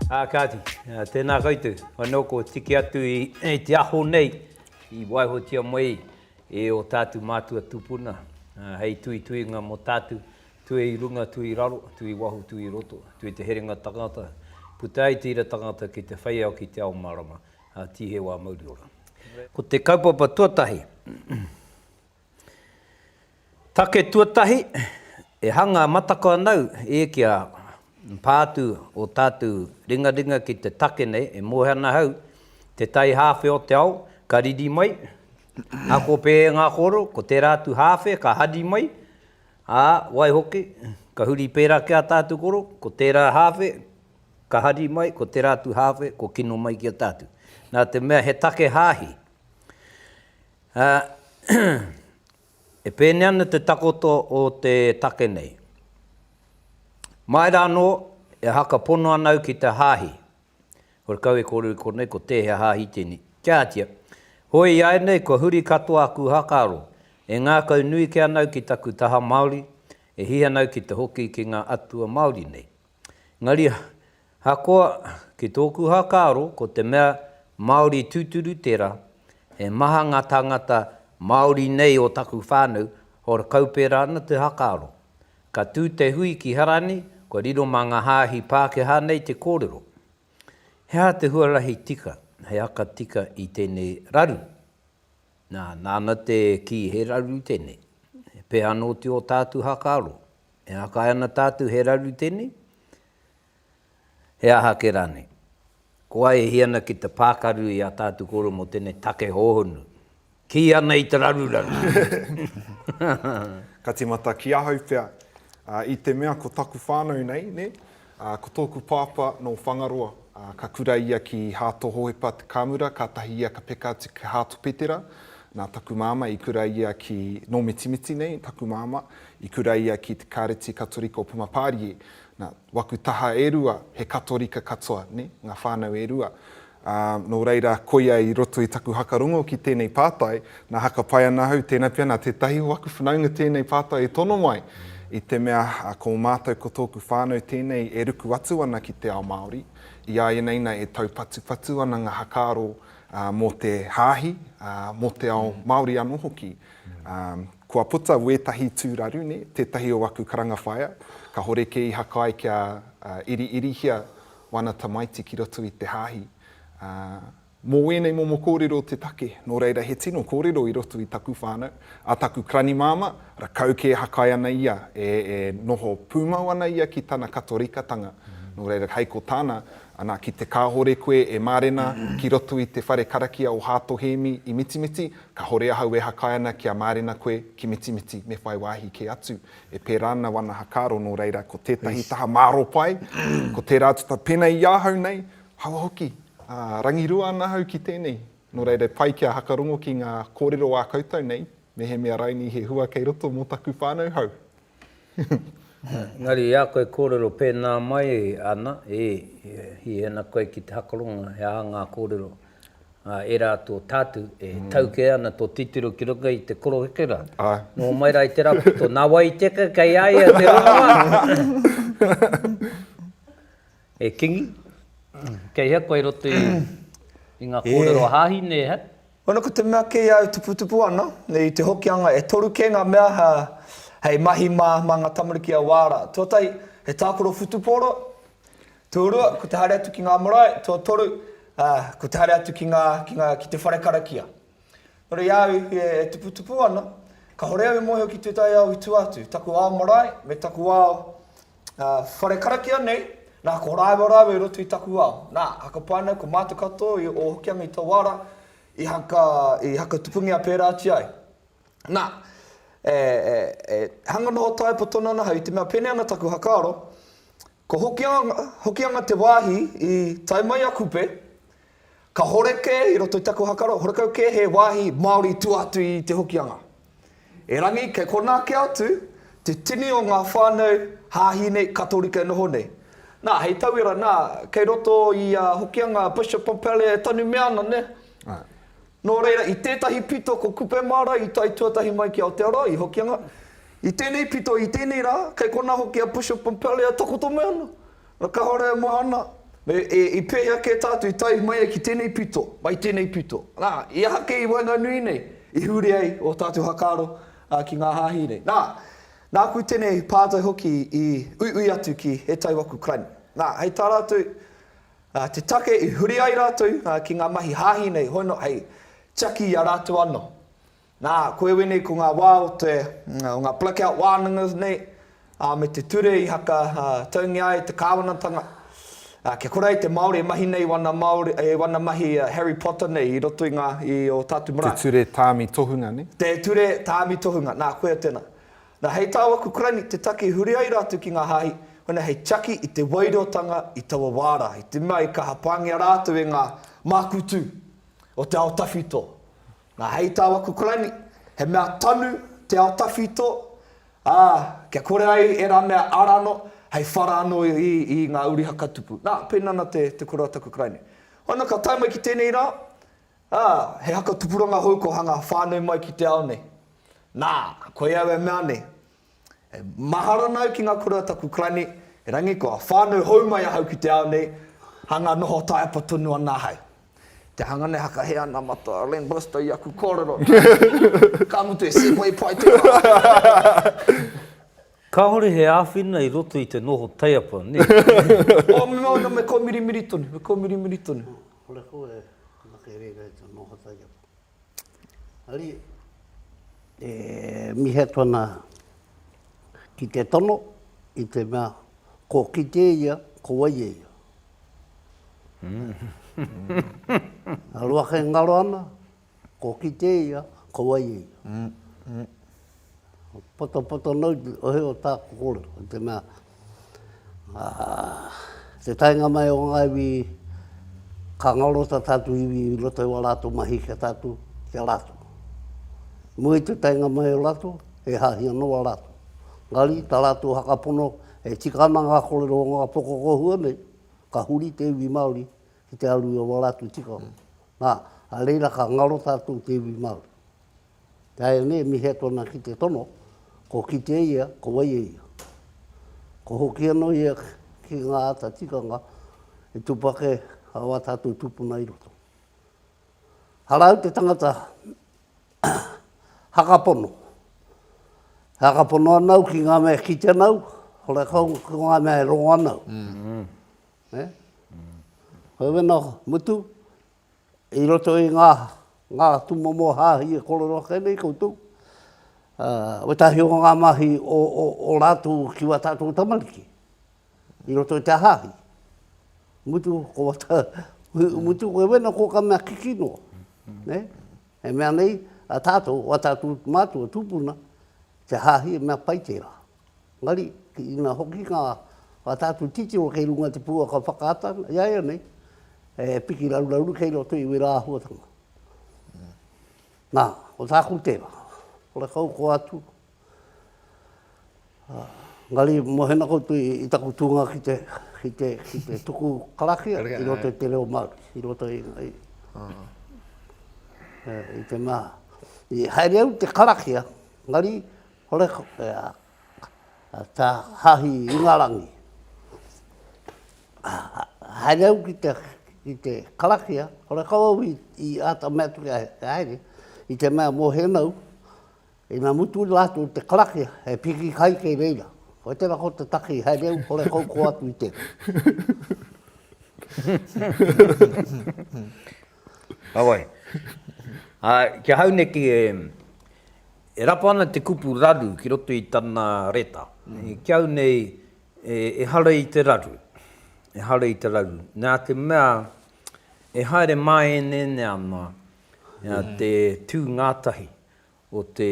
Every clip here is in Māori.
Ā kāti, tēnā koutou, anō kua tiki atu i te aho nei i waihotia mai e ō tātou mātua tūpuna hei tuituinga mō tātou, tue i runga, tue i raro, tue i waho, tue i roto, tue te herenga tangata, puta ai te ira tangata ki te whai ao ki te ao mārama, ā, tīheu ā mauri ora. Ko te kaupapa tuatahi. Take tuatahi, e hanga matako anau e kia pā atu o tātou ringaringa ki te take nei e moe ana hau, te tai hāwhe o te ao ka riri mai, ako pē e ngā koro, ko tērā atu hāwhe ka hari mai, ā, waihoki, ka huri pērā ki a tātou koro, ko tērā hāwhe ka hari mai, ko tērā atu hāwhe ko kino mai ki a tātou. Nā te mea he take hāhi, Ā, e pēnei ana te takoto o te take nei. Mai rā anō, e haka pono ana au ki te hāhi. Kore kau e kōrero i konei ko tēhea hāhi tēnei. Kia ātia. Hoi iāianei kua huri katoa aku hakaaro, e ngākau nui ke ana au ki taku taha Māori, e hiha ana au ki te hoki ki ngā atua Māori nei. Engari, ahakoa, ki tōku whakaaro, ko te mea Māori tūturu tērā, he maha ngā tāngata Māori nei o taku whānau, hora kau pērā ana te whakaaro. Ka tū te hui ki Harani, kua riro mā ngā hāhi Pākehā nei te kōrero. He aha te huarahi tika, he haka tika i tēnei raru? Nā, nāna te kī he raru tēnei. He pēhana oti ō tātu whakaaro? E akae ana tātou he raru tēnei? He aha ake rānei? Ko ai e hia ana ki te pākaru i ā tātou kōrero mō tēnei take hōhonu, kī ana i te raruraru! Ka tīmata ki ahau pea, i te mea ko taku whānau nei, nē? Ā, ko tōku pāpā nō Whangaroa, ā, ka kura ia ki Hāto Hohepa Te Kāmura, kātahi ia ka peka atu ki Hāto Petera. Nā taku māmā, i kura ia ki, nō Mitimiti nei taku māmā, i kura ia ki te Kāreti Katorika o Pumapārie. Nā, waku taha e rua, he Katorika katoa, nē, ngā whānau e rua. Ā, nō reira, koia i roto i taku haka rongo ki tēnei pātai, nā haka pai ana ahau, tēnā pea nā tētahi o aku whanaunga tēnei pātai e tono mai, i te mea, ko mātou ko tōku whānau tēnei e ruku atu ana ki te ao Māori, i a ia nei na e taupatupatu ana ngā hakaaro mō te hāhi, ā, mō te ao Māori anō hoki. Ā, kua puta wētahi tūraru, nē, tētahi o aku karanga whaea, kahore kē i haka ai kia iriirihia wana tamaiti ki roto i te hāhi, ā. Mō wēnei momo kōrero te take, nō reira he tino kōrero i roto i taku whānau, a taku kraнимāmā, rakau kē hakai ana ia, e, e noho pūmau ana ia ki tana Katorikatanga, nō reira hei ko tāna, ana, ki te kāore koe e mārena ki roto i te whare karakia o Hāto Hēmi i Mitimiti, kāore ahau e hakai ana kia mārena koe ki Mitimiti, me whai wāhi kē atu E pērā ana wana hakaaro nō reira ko tētahi taha māro pai, ko tērā tata pēnei i ahau nei, hawa hoki, ā, rangirua ana ahau ki tēnei. Nō reira e pai kia hakarongo ki ngā kōrero ā koutou nei, mehemea rainī he hua kei roto mō taku whānau hou. Engari i a koe e kōrero pēnā mai ana, ē, hihena koe ki te hakarongo he aha ngā kōrero Ā, e rā tō tātou e tau kē ana tō titiro ki runga i te koroheke rā. Nō mai rā i te rā poto, nā wai i teka kei a ia te rongoā? E Kingi, kei hea koe i roto i i ngā kōrero a Hāhine, he? Wana, ko te mea kei a au tuputupu ana, i te Hokianga, e toru kē ngā mea hei mahi mā, mā ngā tamariki a Wāra. Tuatahi, he tākaro whutupōro, Tuarua, ko te haere atu ki ngā marae, tuatoru, ā, ko te haere atu ki ngā, ki ngā, ki te whare karakia. Nō reira, i a au i whiria e tuputupu ana, kāore au i mōhio ki tētahi ao i tua atu, taku ao marae me taku ao, ā, whare karakia nei, nā, ko rāua rāua i roto i taku ao. Nā, haka pai ana, ko mātou katoa i o Hokianga i taua ara, i haka, i haka tupungia pērā atu ai. Nā, e, e, e hanga noho tae poto noa ana ahau, i te mea pēnei ana taku whakaaro, Ko Hokianga te wāhi i tae mai a Kupe. Kahore kē i roto i taku hakaro, horekau kē he wāhi Māori i tua atu i Te Hokianga. Erangi, kei konā kē atu te tini o ngā whānau hāhi nei, Katorika e noho nei. Nā, hei tauira, nā, kei roto i a Hokianga, Bishop Pompallier e tanumia ana, nē? Āe. Nō reira, i tētahi pito ko Kupe Māra i tae tuatahi mai ki Aotearoa, i Hokianga. I tēnei pito, i tēnei rā, kei konā hoki a Bishop Pompallier e takoto mai ana. Nō kāore e maha ana, me, e, i pēhea kē tātou i tae mai ai ki tēnei pito, mai tēnei pito. Nā, i aha kē i waenganui nei i huri ai ō tātou whakaaro, ā, ki ngā hāhi nei? Nā, nāku tēnei pātai hoki i uiui atu ki He Tai Waku Crime. Nā, hei tā rātou, ā, te take i huri ai rātou ki ngā mahi hāhi nei hono hei tiaki i a rātou anō. Nā, koe wēnei ko ngā wā o te, o ngā blackout wānanga nei, ā, me te ture i haka taungia ai te kāwanatanga, ā, kia kore ai te Māori e mahi nei i wana Māori, i wana mahi Harry Potter nei i roto i ngā, i ō tātou marae. Te ture tāmi tohunga nei? Te ture tāmi tohunga, nā, koia tēnā. Na hei tāu aku karani te take huri ai rātou ki ngā hāhi, hona hei tiaki i te wairotanga i taua wā rā, i te mea i kaha pāngia rātou e ngā mākutu o te ao tawhito. Na hei tāu aku karani, he mea tanu te ao tawhito, ā, kia kore ai ērā mea ara anō, hei whara anō i ngā uri hakatupu. Na, pēnā ana te koroa taku karani. Hona ka tae mai ki tēnei rā, Ā, he haka tupuranga hou kua hanga whānui mai ki te ao nei. Nā, koia au e mea nei, E mahara ana au ki ngā kura a taku Karani, erangi kua whānau hou mai ahau ki te ao nei, hanga noho taepa tonu ana ahau. Te hanga nei hakahe ana mata a Len Bristow i aku kōrero, nā, ka mutu he segway pai te whānau. Kāore he āwhina i roto i te noho taepa, nē? Ō, me mea ana, me kōmirimiri tonu, me kōmirimiri tonu. Kore koe e anake reira e te noho taiapa. Ari, e mihi atu ana ki te tono i te mea ko kite ia, ko wai e ia. Aroake ngaro ana. Kua kite ia, ka waia ia. Patapata nau te ohe o tā kōrero, i te mea, te taenga mai o ngā iwi, ka ngaro tā tātou iwi i roto i wā rātou mahi ki a tātou, ki a rātou. Mua i te taenga mai o rātou, e hāhi ana wā rātou. Engari, tā rātou whakapono, e tika ana ngā kōrero o ngā whakakohua nei, ka huri te iwi Māori ki te aru i a wā rātou tikanga. Ā, a reira ka ngaro tātou te iwi Māori. Ināianei, mihia tōna ki te tono, ko kite ia, ko wai e ia. Ko hoki anō ia ki ngā āta tikanga i tupake ā tātou tūpuna i roto. Arā au te tangata hakapono. E hakapono ana au ki ngā mea e kite ana au, ora ko ngā mea e rongo ana au. Eh? Hoi wena mutu, i roto i ngā, ngā tumomo hāhi e korero ake nei koutou, uh, wetahi o ngā mahi o, o, o rātou ki wā tātou tamariki, i roto i te hāhi. Mutu, ko wata, mutu, koe wena ko ka mea kiki noa. Ne? E mea nei, a tātou, wā tātou mātua tūpuna, te hāhi e mea pai tērā. Engari, ki ina hoki ngā whakatātu titiro kei runga i te pouaka whakaata ana, iaianei, he piki raruraru kei roto i wērā āhuatanga. Nā, ko tāku tērā, horekau koa atu, engari mohena koutou i taku tūnga ki te, ki te, ki te tuku karakia i roto i te reo Māori, i roto i, i, i te mea, i haere au i te karakia, engari, Horekore a Ta Hahi Ingarangi. Haere au ki te, ki te karakia, horekau au i, i ata mea atu kia haere, i te mea mo Henau, ina mutu i rātou te karakia, he piki kai kei reira. Koe tera ko te taki, haere au, horekau ko atu i tera. Heoi, ā, ki ahau neke e rapa ana te kupu raru ki roto i tana reta. Ki au nei, ehara i te raru, ehara i te raru. Nā te mea, e haere māēnēnē ana te tū ngātahi o te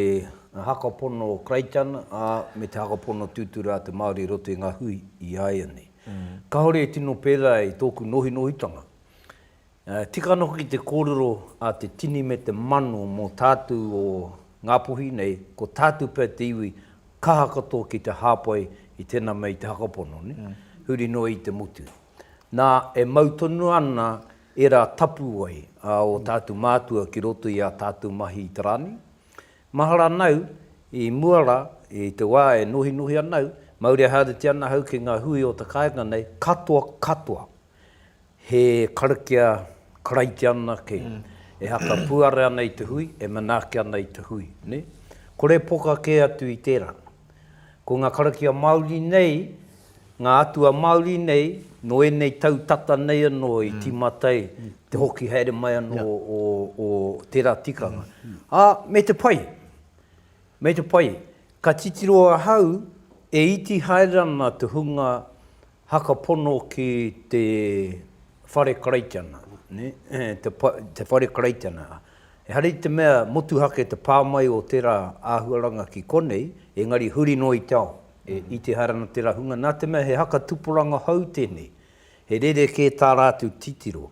hakapono Karaitiana, ā, me te hakapono tūturu a te Māori i roto i ngā hui i a ia nei. Kāore e tino pērā i tōku nohinohitanga. Tika ana hoki te kōrero a te tini me te mano mō tātū o Ngāpuhi nei, ko tātū pea te iwi kaha katoa ki te hāpai i tēnā mea i te hakapono, huri noa i te motu. Nā, e mau tonu ana ērā tapu wai a ō tātou mātua ki roto i ā tātou mahi i te rā nei. Mahara ana au, i mua rā, i te wā e nohinohi ana au, mauri haereti ana au ki ngā hui o te kāinga nei, katoa, katoa, he karakia Karaitiana kē, e haka puare ana i te hui, e manaaki ana i te hui, nē. Kore poka kē atu i tērā. Ko ngā karakia Māori nei, ngā atua Māori nei, nō ēnei tau tata nei anō i tīmata ai te hoki haere mai anō o tērā tikanga. Ā, me te pai, me te pai, ka titiro ahau e iti haere ana te hunga haka pono ki te whare Karaitiana, te whare Karaitiana, Ehara i te mea motuhake te pā mai o tērā āhuaranga ki konei, engari huri noa i te ao, i te ehara ana tērā hunga, nā te mea he haka tupuranga hou tēnei, he rerekē tā rātou titiro.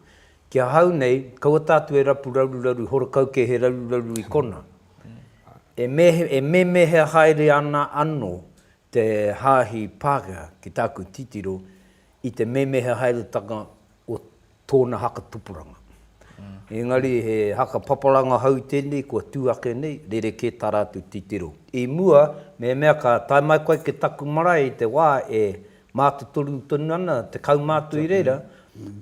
Ki ahau nei, kaua tātou e rapu raruraru horekau kē he raruraru i konā. E mēmēhea haere ana anō Te Haahi Pākehā, ki tāku titiro, i te memeha haeretanga o tōna haka tupuranga. Engari he haka papalanga hou tēnei kua tū ake nei, rerekē tā rātou titiro. I mua, mehemea ka tae mai koe ki taku marae i te wā e mātotoru tonu ana te kaumātua i reira,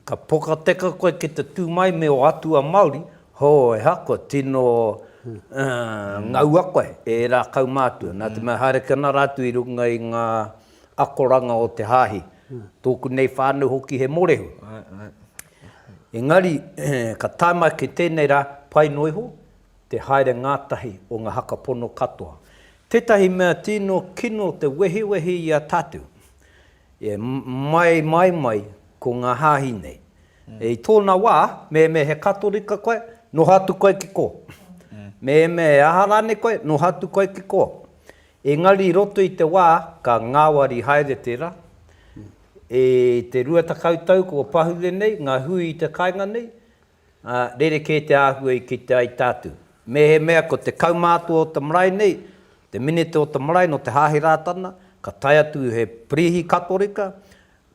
Ka pokateka koe ki te tū mai me ō atua Māori, hō, ehako, tino ngaua koe e ērā kaumātua. Nā te mea haere ki ana rātou i runga i ngā akoranga o te hāhi, tōku nei whānau hoki he morehu. Engari, ka tae mai ki tēnei rā, pai noa iho te haere ngātahi o ngā haka pono katoa. Tētahi mea tino kino te wehiwehi i a tātou, E mai, mai, mai, ko ngā hāhi nei. I tōna wā, mehemea he Katorika koe, noho atu koe ki kō. Mehemea he aha rānei koe, noho atu koe ki kō. Engari i roto i te wā, ka ngāwari haere tērā. I te rua tekau tau kua pahure nei ngā hui i te kāinga nei, Ā, rerekē te āhua i kite ai tātou. Mēhemea ko te kaumātua o te marae nei, te minita o te marae nō te Hāhi Rātana, ka tae atu he Pirihi Katorika,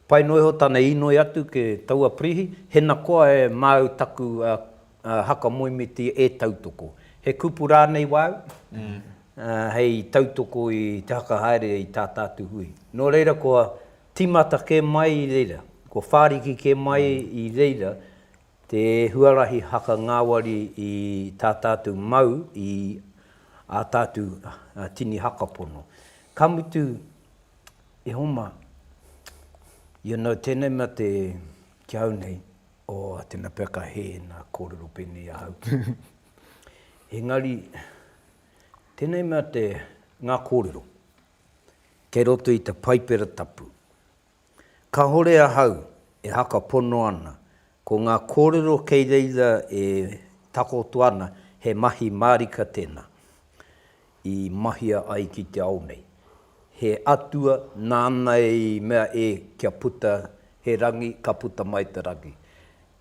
pai noa iho tana inoi atu ki taua Pirihi, hena koa e māu taku haka moemiti e tautoko. He kupu rānei wāu, hei tautoko i te haka haere i tā tātou hui. Nō reira koa Tīmata kē mai i reira, kua whāriki kē mai i reira te huarahi haka ngāwari i tā tātou mau i ā tātou tini haka pono. Ka mutu, e Homa, you know, tēnei mea te, ki au nei, oh, tēnā pea ka hē nā kōrero pēnei ahau ki au. Engari, tēnei mea te, ngā kōrero. kei roto i te Paipera Tapu. Kahore ahau e haka pono ana, ko nga korero kei reira e takoto ana he mahi marika tena i mahia ai ki te ao nei. He Atua nana i mea e kia puta he rangi ka puta mai te rangi.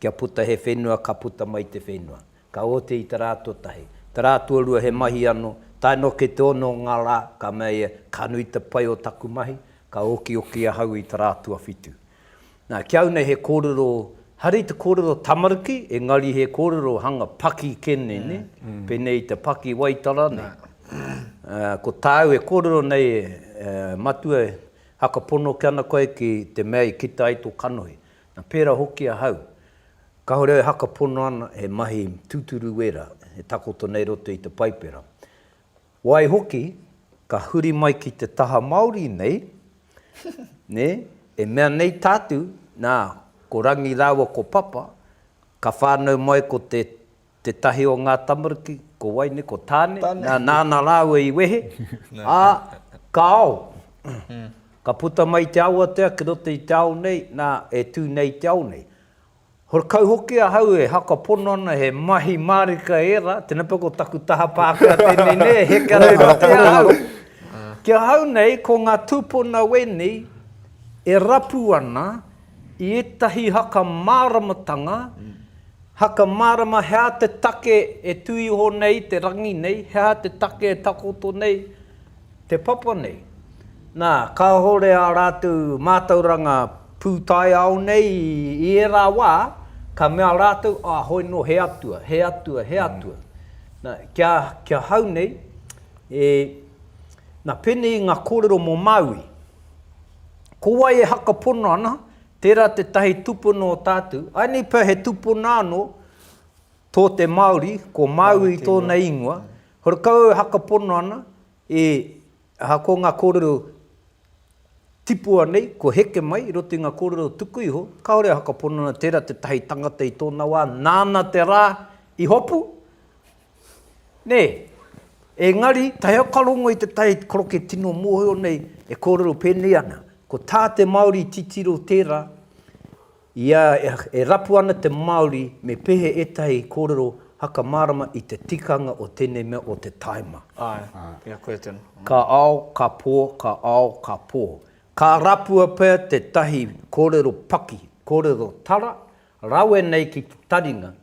Kia puta he whenua ka puta mai te whenua. Ka oti i te rā tuatahi. Te rā tuarua he mahi anō. Tae noa ki te ono o ngā rā, ka mea ia, Ka nui te pai o taku mahi, ka okioki ahau i te rā tuawhitu. Nā, ki au nei he kōrero, haere i te kōrero tamariki, engari he kōrero hanga paki kē nei, nē? Pēnei i te paki Waitara nei. Ko tāu e kōrero nei, e, Matua, haka pono ke ana koe ki te mea i kita ai tō kanohi. Nā, pērā hoki ahau. Kāore au e haka pono ana he mahi tūturu wērā e takoto nei roto i te Paipera. Waihoki, ka huri mai ki te taha Māori nei, nē, e mea nei tātou, nā, ko Rangi rāua ko Papa, ka whānau mai ko te Tētahi o ngā tamariki, ko wai nei, ko Tāne, nāna rāua i wehe, ā, ka ao. Ka puta mai i te awatea ki roto i te ao nei, nā, e tū nei i te ao nei. Horekau hoki ahau e haka pono ana he mahi mārika ērā, tēnā pea ko taku taha Pākehā tēnei nei e heke ana ki roto i a au. Ki ahau nei, ko ngā tūpuna wēnei e rapu ana, I ētahi haka māramatanga, haka mārama he aha te take e tū iho nei te rangi nei, he aha te take e takoto nei te papa nei. Nā, kāore ā rātou mātauranga pūtaiao nei i ērā wā, ka mea rātou, ā, hoi nō he atua, he atua, he atua. Nā, kia, kia hau nei, e, nā, pēnei i ngā kōrero mō Māui. Ko wai e hakapono ana, tērā tētahi tūpuna o tātou. Āinei pea he tūpuna anō tō te Māori, ko Māui tōna ingoa. Horekau au e hakapono ana, e, aha, ko ngā kōrero tipua nei, kua heke mai i roto i ngā kōrero tuku iho, kāore e hakapono ana tērā tētahi tangata i tōna wā, nāna te rā i hopu, Nē, engari, tae au ka rongo i te tae koroke tino mōhio nei e kōrero pēnei ana, ko tā te Māori titiro tērā, i a, e rapu ana te Māori me pehe ētahi kōrero haka mārama i te tikanga o tēnei mea o te tāima. Āe, i a koe tonu. Ka ao, ka pō, ka ao, ka pō. Ka rapua pea tētahi kōrero paki, kōrero tara, rawe nei ki te taringa,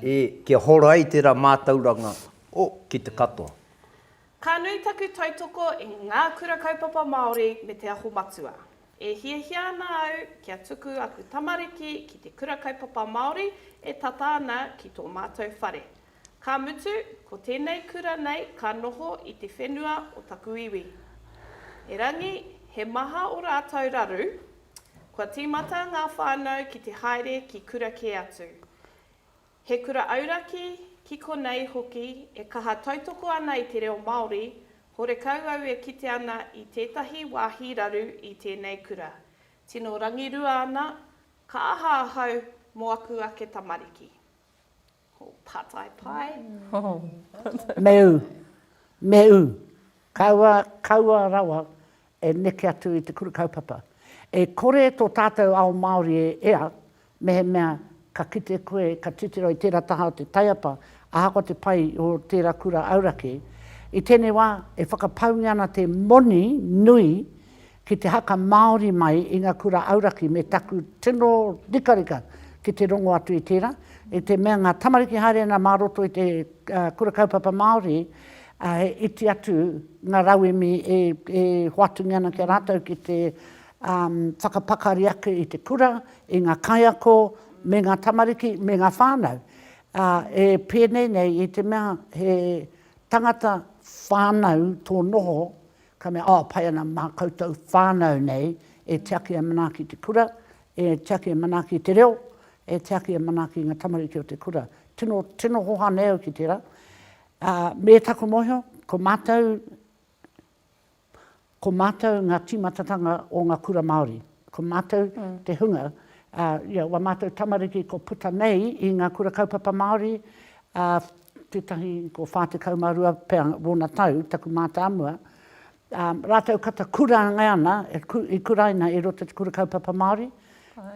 E, kia hora ai tērā mātauranga, o, ki te katoa. Ka nui taku tautoko i Ngā Kura Kaupapa Māori me Te Aho Matua. E hiahia ana au kia tuku aku tamariki ki te Kura Kaupapa Māori e tata ana ki tō mātou whare. Ka mutu, ko tēnei kura nei ka noho i te whenua o taku iwi. Erangi, he maha o rātou raru, Kua tīmata ngā whānau ki te haere ki kura kē atu. He kura auraki, ki konei hoki e kaha tautoko ana i te reo Māori, horekau au e kite ana i tētahi wāhi raru i tēnei kura. Tino rangirua ana, ka aha ahau mō aku ake tamariki? Pātai pai. Meu, meu, kaua, kaua rawa e neke atu i te kura kaupapa. E kore tō tātou ao Māori e ea, mehemea ka kite koe, ka titiro i tērā taha o te taiapa, ahakoa te pai o tērā kura auraki. I tēnei wā, e whakapaungia ana te moni nui ki te haka Māori mai i ngā kura auraki me taku tino rikarika ki te rongo atu i tērā, i te mea ngā tamariki haere ana mā roto i te Kura Kaupapa Māori, he iti atu ngā rauemi e hoatungia ana ki a rātou ki te whakapakari ake i te kura, i ngā kaiako me ngā tamariki, me ngā whānau. E pēnei nei i te mea he tangata whānau tō noho, Ka mea, Oh, pai ana mā koutou whānau nei e tiaki e manaaki te kura, e tiaki e manaaki te reo, e tiaki e manaaki nga tamariki o te kura. Tino, tino hoha nei au ki tera. Me taku mohio, ko matou, ko matou nga timatatanga o nga kura Maori. Ko mātou te hunga, ā, ia, wā mātou tamariki ko puta nei i ngā Kura Kaupapa Māori, ā, tētahi ko 42 pea wōna tau, taku mātāmua, ā, rātou kata kurāngai ana, i kuraina i roto i te Kura Kaupapa Māori,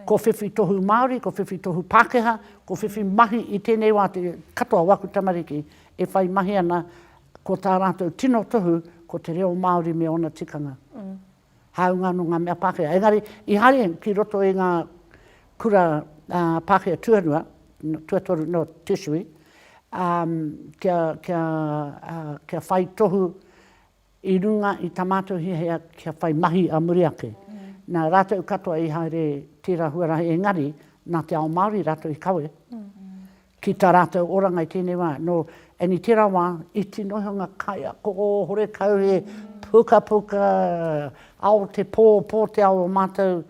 ko whiwhi tohu Māori, ko whiwhi tohu Pākehā, ko whiwhi mahi i tēnei wā te katoa o aku tamariki e whai mahi ana, ko tā rātou tino tohu ko te reo Māori me ōna tikanga. hāunga anō ngā mea Pākehā. Engari, i haere ki roto i ngā kura Pākehā tuarua, tuatoru, no, tertiary, kia, kia, kia whai tohu i runga i tā mātou hiahia kia whai mahi ā muri ake. Nā, rātou katoa i haere tērā huarahi, engari, nā te ao Māori rātou i kawe. Ki tā rātou oranga i tēnei wā, nō Annie tērā wā, iti noa iho ngā kaiako horekau he pukapuka ao te pō, pō te ao o mātou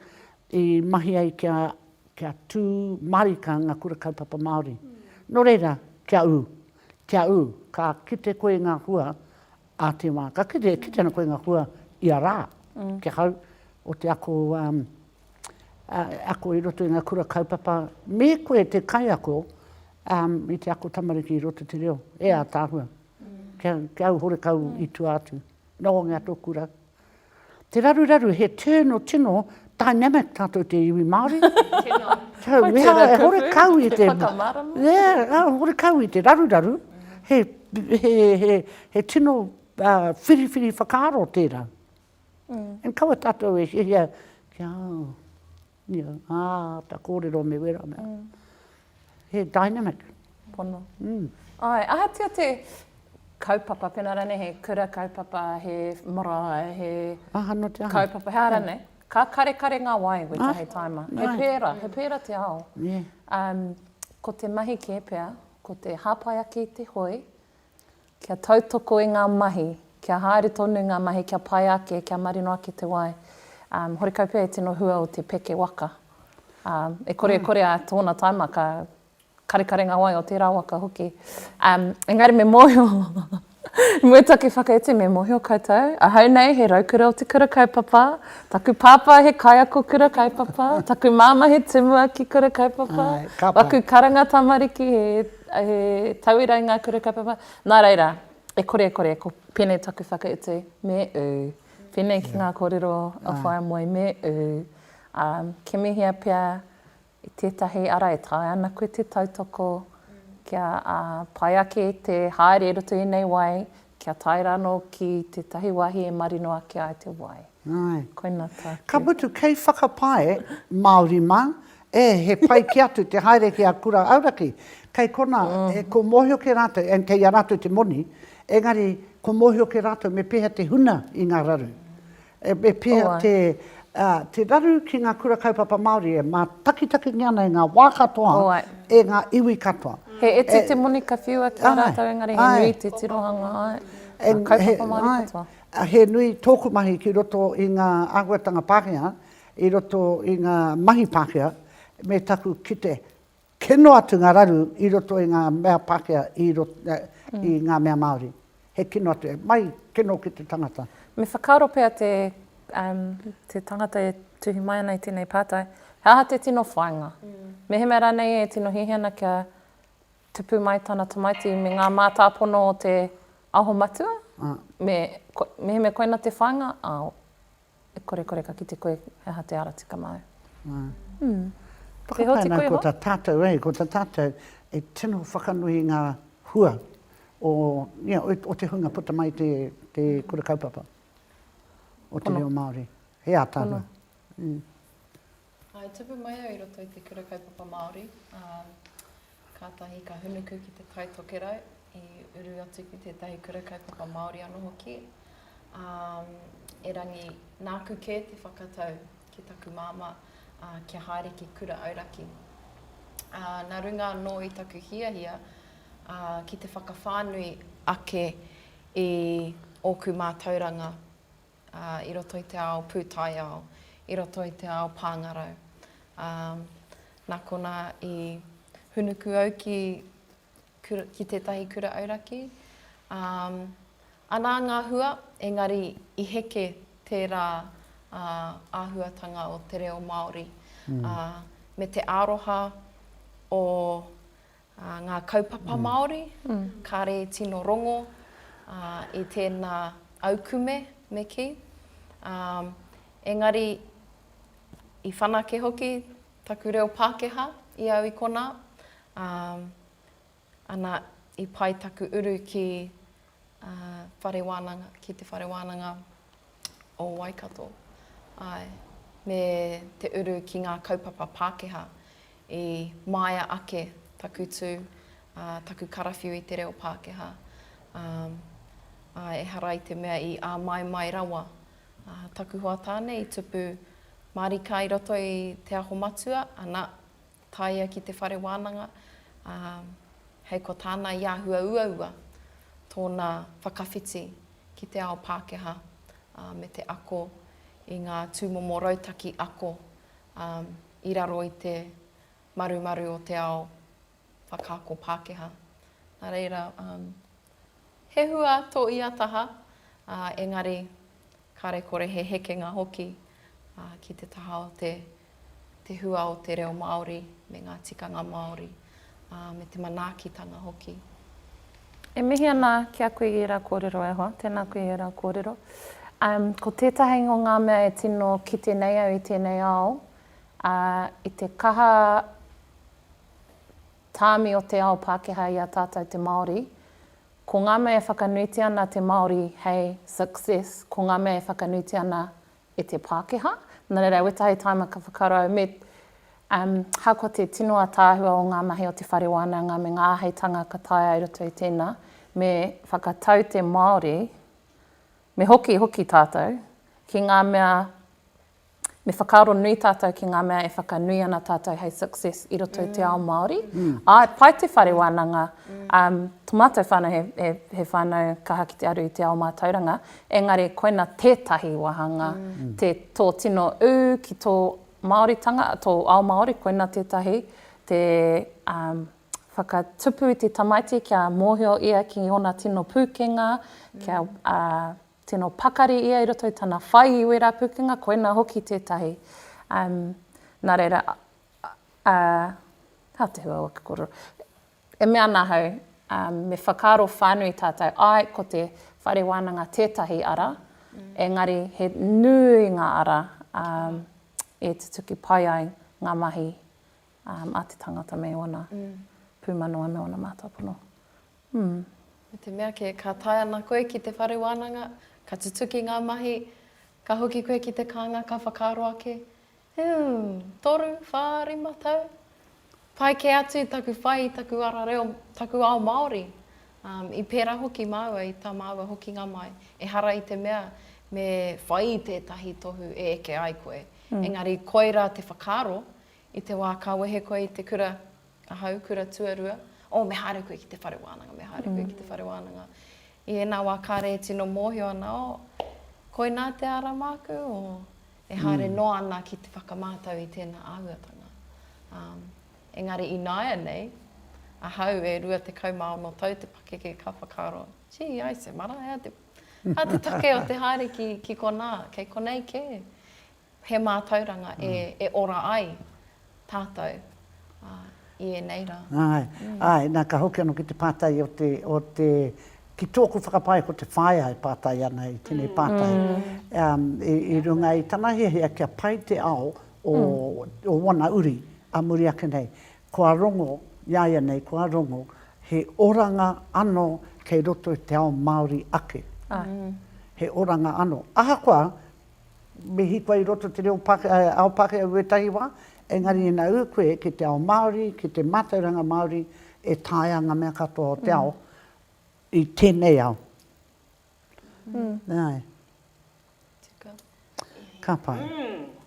i mahi ai kia, kia tū mārika ngā kura kaupapa Māori. Nō reira, kia ū, kia ū, ka kite koe i ngā hua a te wā, ka kite, kite ana koe i ngā hua ia rā, ki ahau, o te ako ako i roto i ngā kura kaupapa, me koe te kaiako i te ako tamariki i roto te reo, e ātaahua. Kia au horekau i tua atu. Nōngia tō kura. Te raruraru, he tino, tino dynamic tātou te iwi Māori. Tino. Wai tērā tōku. Horekau i te. Te whakamārama. Yeah, horekau i te raruraru. He tino whiriwhiri whakaaro tērā. And kaua tatou e hihia kia ia a ta korero me wera mea. He dynamic. Pono. Ae, ahatia te kaupapa pena ranei he kura kaupapa, he marae, he kaupapa, he ara nei. Ka karekare nga wai we tahi taima. He pera, he pera te ao. Um, ko te mahi ke pea, ko te hapai ake i te hoi, Kia tautoko i ngā mahi, kia haere tonu ngā mahi, kia pai ake, kia marino ake te wai. Horekau pea e tino hua o te peke waka. E kore e kore a tōna taima ka karekare ngā wai o tērā waka hoki. Engari me mōhio, i mua i taku whakaiti, me mōhio koutou, ahau nei he raukura o te kura kaupapa, taku pāpā he kaiako kura kaupapa, taku māmā he tumuaki kura kaupapa, waku karanga tamariki he He tauira i ngā kura kaupapa. Nā reira, e kore e kore, ko pēnei taku whakautu, me ū. Pēnei ki ngā kōrero a Whaea Moe, me ū. Ā, kimihia pea i tētahi ara e taea ana koe te tautoko kia pai ake te haere i roto i ēnei wai, kia tae rānō ki tētahi wāhi e marino ake ai te wai. Āe. Koina tāku. Ka mutu, kei whakapae, Māori mā, e, he pai kē atu te haere ki a kura auraki. Kei konā, e, kua mōhio kē rātou, and kei a rātou te moni, engari, kua mōhio kē rātou me pēhea te huna i ngā raru. E pēhea te raru ki ngā Kura Kaupapa Māori e mātakitakingia ana e ngā wā katoa, e ngā iwi katoa? He iti te moni ka whiua ki a rātou, engari he nui te tirohanga ai ngā kaupapa Māori katoa. He nui tōku mahi ki roto i ngā āhuatanga Pākehā, i roto i ngā mahi Pākehā, me taku kite Kino atu ngā raru i roto i ngā mea Pākehā, i ngā mea Māori. He kino atu, he mahi kino ki te tangata. Me whakaaro pea te tangata e tuhi mai ana i tēnei pātai, he aha te tino whāinga? Mehemea rānei e tino hiahia ana kia tupu mai tana tamaiti me ngā mātāpono o te Aho Matua, mehemea koina te whāinga, āo. E kore kore ka kite koe he aha te ara tika māu. Nga. Mm. Whakapae nā ko ta tātou e, ko ta tātou e tino whakanui i ngā hua o, ia, o te hunga puta mai te, te kura kaupapa o te reo Māori. He ātaahua. Pono. Mm. I tupu mai au i roto i te Kura Kaupapa Māori, ā, kātahi ka hunuku ki te Tai Tokerau, i uru atu ki tētahi Kura Kaupapa Māori anō hoki, ā, erangi nāku kē te whakatau ki taku māmā, ā, kia haere ki Kura Auraki. Ā, nā runga anō i taku hiahia, ā, ki te whakawhānui ake i ōku mātauranga, ā, i roto i te ao pūtaiao, i roto i te ao pāngarau. Ā, nā konā i hūnuku au ki, kura, ki tētahi kura auraki. Ā, anā ngā hua, engari i heke tērā ā, āhuatanga o te reo Māori, ā, me te aroha o Ā, ngā kaupapa Māori, kāre i tino rongo, ā, i tēnā aukume me kī. Ā, engari, i whanake hoki taku reo Pākehā i au i konā, ā, ana, i pai taku uru ki whare wānanga, ki te whare wānanga o Waikato. Āe, me te uru ki ngā kaupapa Pākehā i māia ake taku tū, ā, taku karawhiu i te reo Pākehā. Ā, ā, ehara i te mea i āmaimai rawa ā, taku hoa tāne i tupu mārika i roto i Te Aho Matua, ana, Tāia ki te whare wānanga, ā, hei ko tāna i āhua uaua tōna whakawhiti ki te ao Pākehā, ā, me te ako i ngā tūmomo rautaki ako, ā, i raro i te marumaru o te ao whakaako Pākehā. Nā reira, ā, he hua tō ia taha, ā, engari Kāre kore he hekenga hoki ki te taha o te hua o te reo Māori me ngā tikanga Māori, me te manaakitanga hoki. E mihi ana ki a kui i ra korero e hoa. Tena kui e ra korero. Um, ko tetahi ngo nga mea e tino kite nei au i tenei ao, uh, i te kaha taami o te ao Pakeha i a tatou te Maori, Ko ngā mea e whakanuitia ana te Māori hei success, ko ngā mea e whakanuitia ana e te Pākehā. Nā reira, e weta hei taimaka whakarau, me, um, hakoa te tino ataahua o ngā mahi o te whare wānanga me ngā āheitanga ka taea i roto i tēnā, me whakatau te Māori, me hoki hoki tātou ki ngā mea Me whakaaro nui tātou ki ngā mea e whakanui ana tātou hei success i roto i te ao Māori. Āe, pai te whare wānanga, tō mātou whānau he whānau kaha ki te aru i te ao mātauranga, engari koina tētahi wāhanga, tō tino ū ki tō Māoritanga, tō ao Māori, koina tētahi te whakatupu i te tamaiti kia mōhio ia ki ōna tino pūkenga, kia Tino pakari ia i roto i tana whai i wera pukenga, koina hoki tetahi. Um, na reira, uh, ha te hua waka kororo. E mea ana hau, um, me whakaro whanui tatou, ai ko te whare wananga tetahi ara, mm. engari he nui nga ara um, e tutuki pai ai nga mahi a te tangata me ōna pūmano a me ōna mātua pono. Mm. Me te mea kē, ka tae ana koe ki te whare wānanga, ka tutuki ngā mahi, ka hoki koe ki te kānga, ka whakaaro ake, Hūm, toru, whā, rima tau? Pai kē atu i taku whai, i taku ara reo, taku ao Māori. Um, I pērā hoki māua i tā māua hokinga mai. Ehara i te mea me whai i tētahi tohu e eke ai koe. Mm. Engari koirā te whakaaro, I te wā ka wehe koe i te kura, ahau, kura tuarua, oh, me haere koe ki te whare wānanga, me haere koe ki te whare wānanga. I ēnā wā kāre e tino mōhio ana, oh, koinā te ara māku, oh, e haere noa ana ki te whakamātau i tēnā āhuatanga. Um, engari ināianei, ahau e 26 tau te pakeke ka whakaaro, gee, ai se mara, hea te, hea te take o te haere ki, ki konā, kei konei kē. He mātauranga e ora ai tātou i ēnei rā. Āe, āe, nā ka hoki anō ki te pātai o te, o te, ki tōku whakapae ko te whaea e pātai ana i tēnei pātai, i runga i tana hiahia kia pai te ao o ōna uri ā muri ake nei, kua rongo, iāianei kua rongo, he oranga anō kei roto i te ao Māori ake. He oranga anō. Ahakoa, Me hikua i roto te reo Pākehā, ao Pākehā i wētahi wā, engari ina ū koe ki te ao Māori, ki te mātauranga Māori, e taea ngā mea katoa o te ao i tēnei ao. Nā. Tika. Ka pai.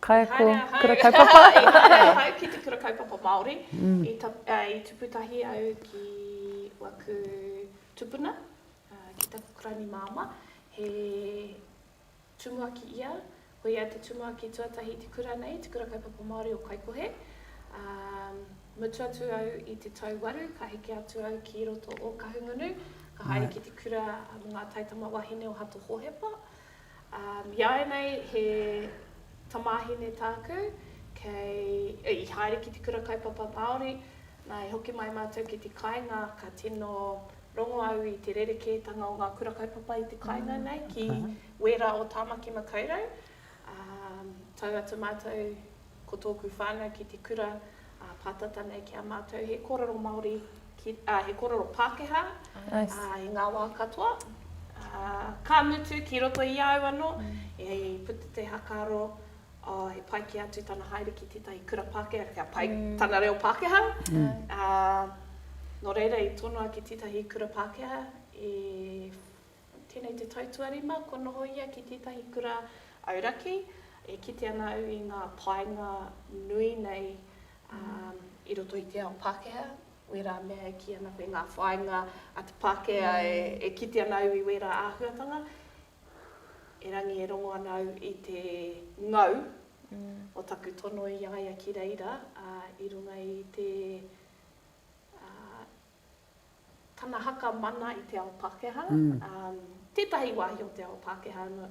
Kaiako kura kaupapa. I haere ahau ki te kura kaupapa Māori. I tupu tahi au ki waku tupuna, ki taku Karani māmā, he Tumuaki ia, ko ia te tumuaki tuatahi i te kura nei, Te Kura Kaupapa Māori o Kaikohe, ā, mutu atu au i te tau waru, ka heke atu au ki roto o Kahungunu, ka haere ki te kura mō ngā taitama wahine o Hato Hōhepa. Ā, iāianei he tamāhine tāku, kei, ē, i haere ki Te Kura Kaupapa Māori, nā, i hoki mai mātou ki te kāinga, ka tino Rongo au i te rerekētanga o ngā kura kaupapa i te kāinga nei ki wērā o Tāmaki Makaurau. Tau atu mātou ko tōku whānau ki te kura pātata nei ki a mātou. He kōrero Māori, he kōrero Pākehā i ngā wā katoa. Ka mutu ki roto i a au anō, i puta te haka aro ā, he pai kē atu tana haere ki tētahi kura Pākehā, kia pai tana reo Pākehā. Ā, nō reira i tonoa ki tētahi kura Pākehā i tēnei te tau tuarima kua noho ia ki tētahi kura auraki. E kite ana au i ngā painga nui nei i roto i te ao Pākehā, wērā mea e kī ana koe ngā whāinga a te Pākehā e kite ana au i wērā āhuatanga. Erangi e rongo ana au i te ngau o taku tono i a ia ki reira, ā, i runga i te, ā, tana haka mana i te ao Pākehā, ā, tētahi wāhi o te ao Pākehā anō,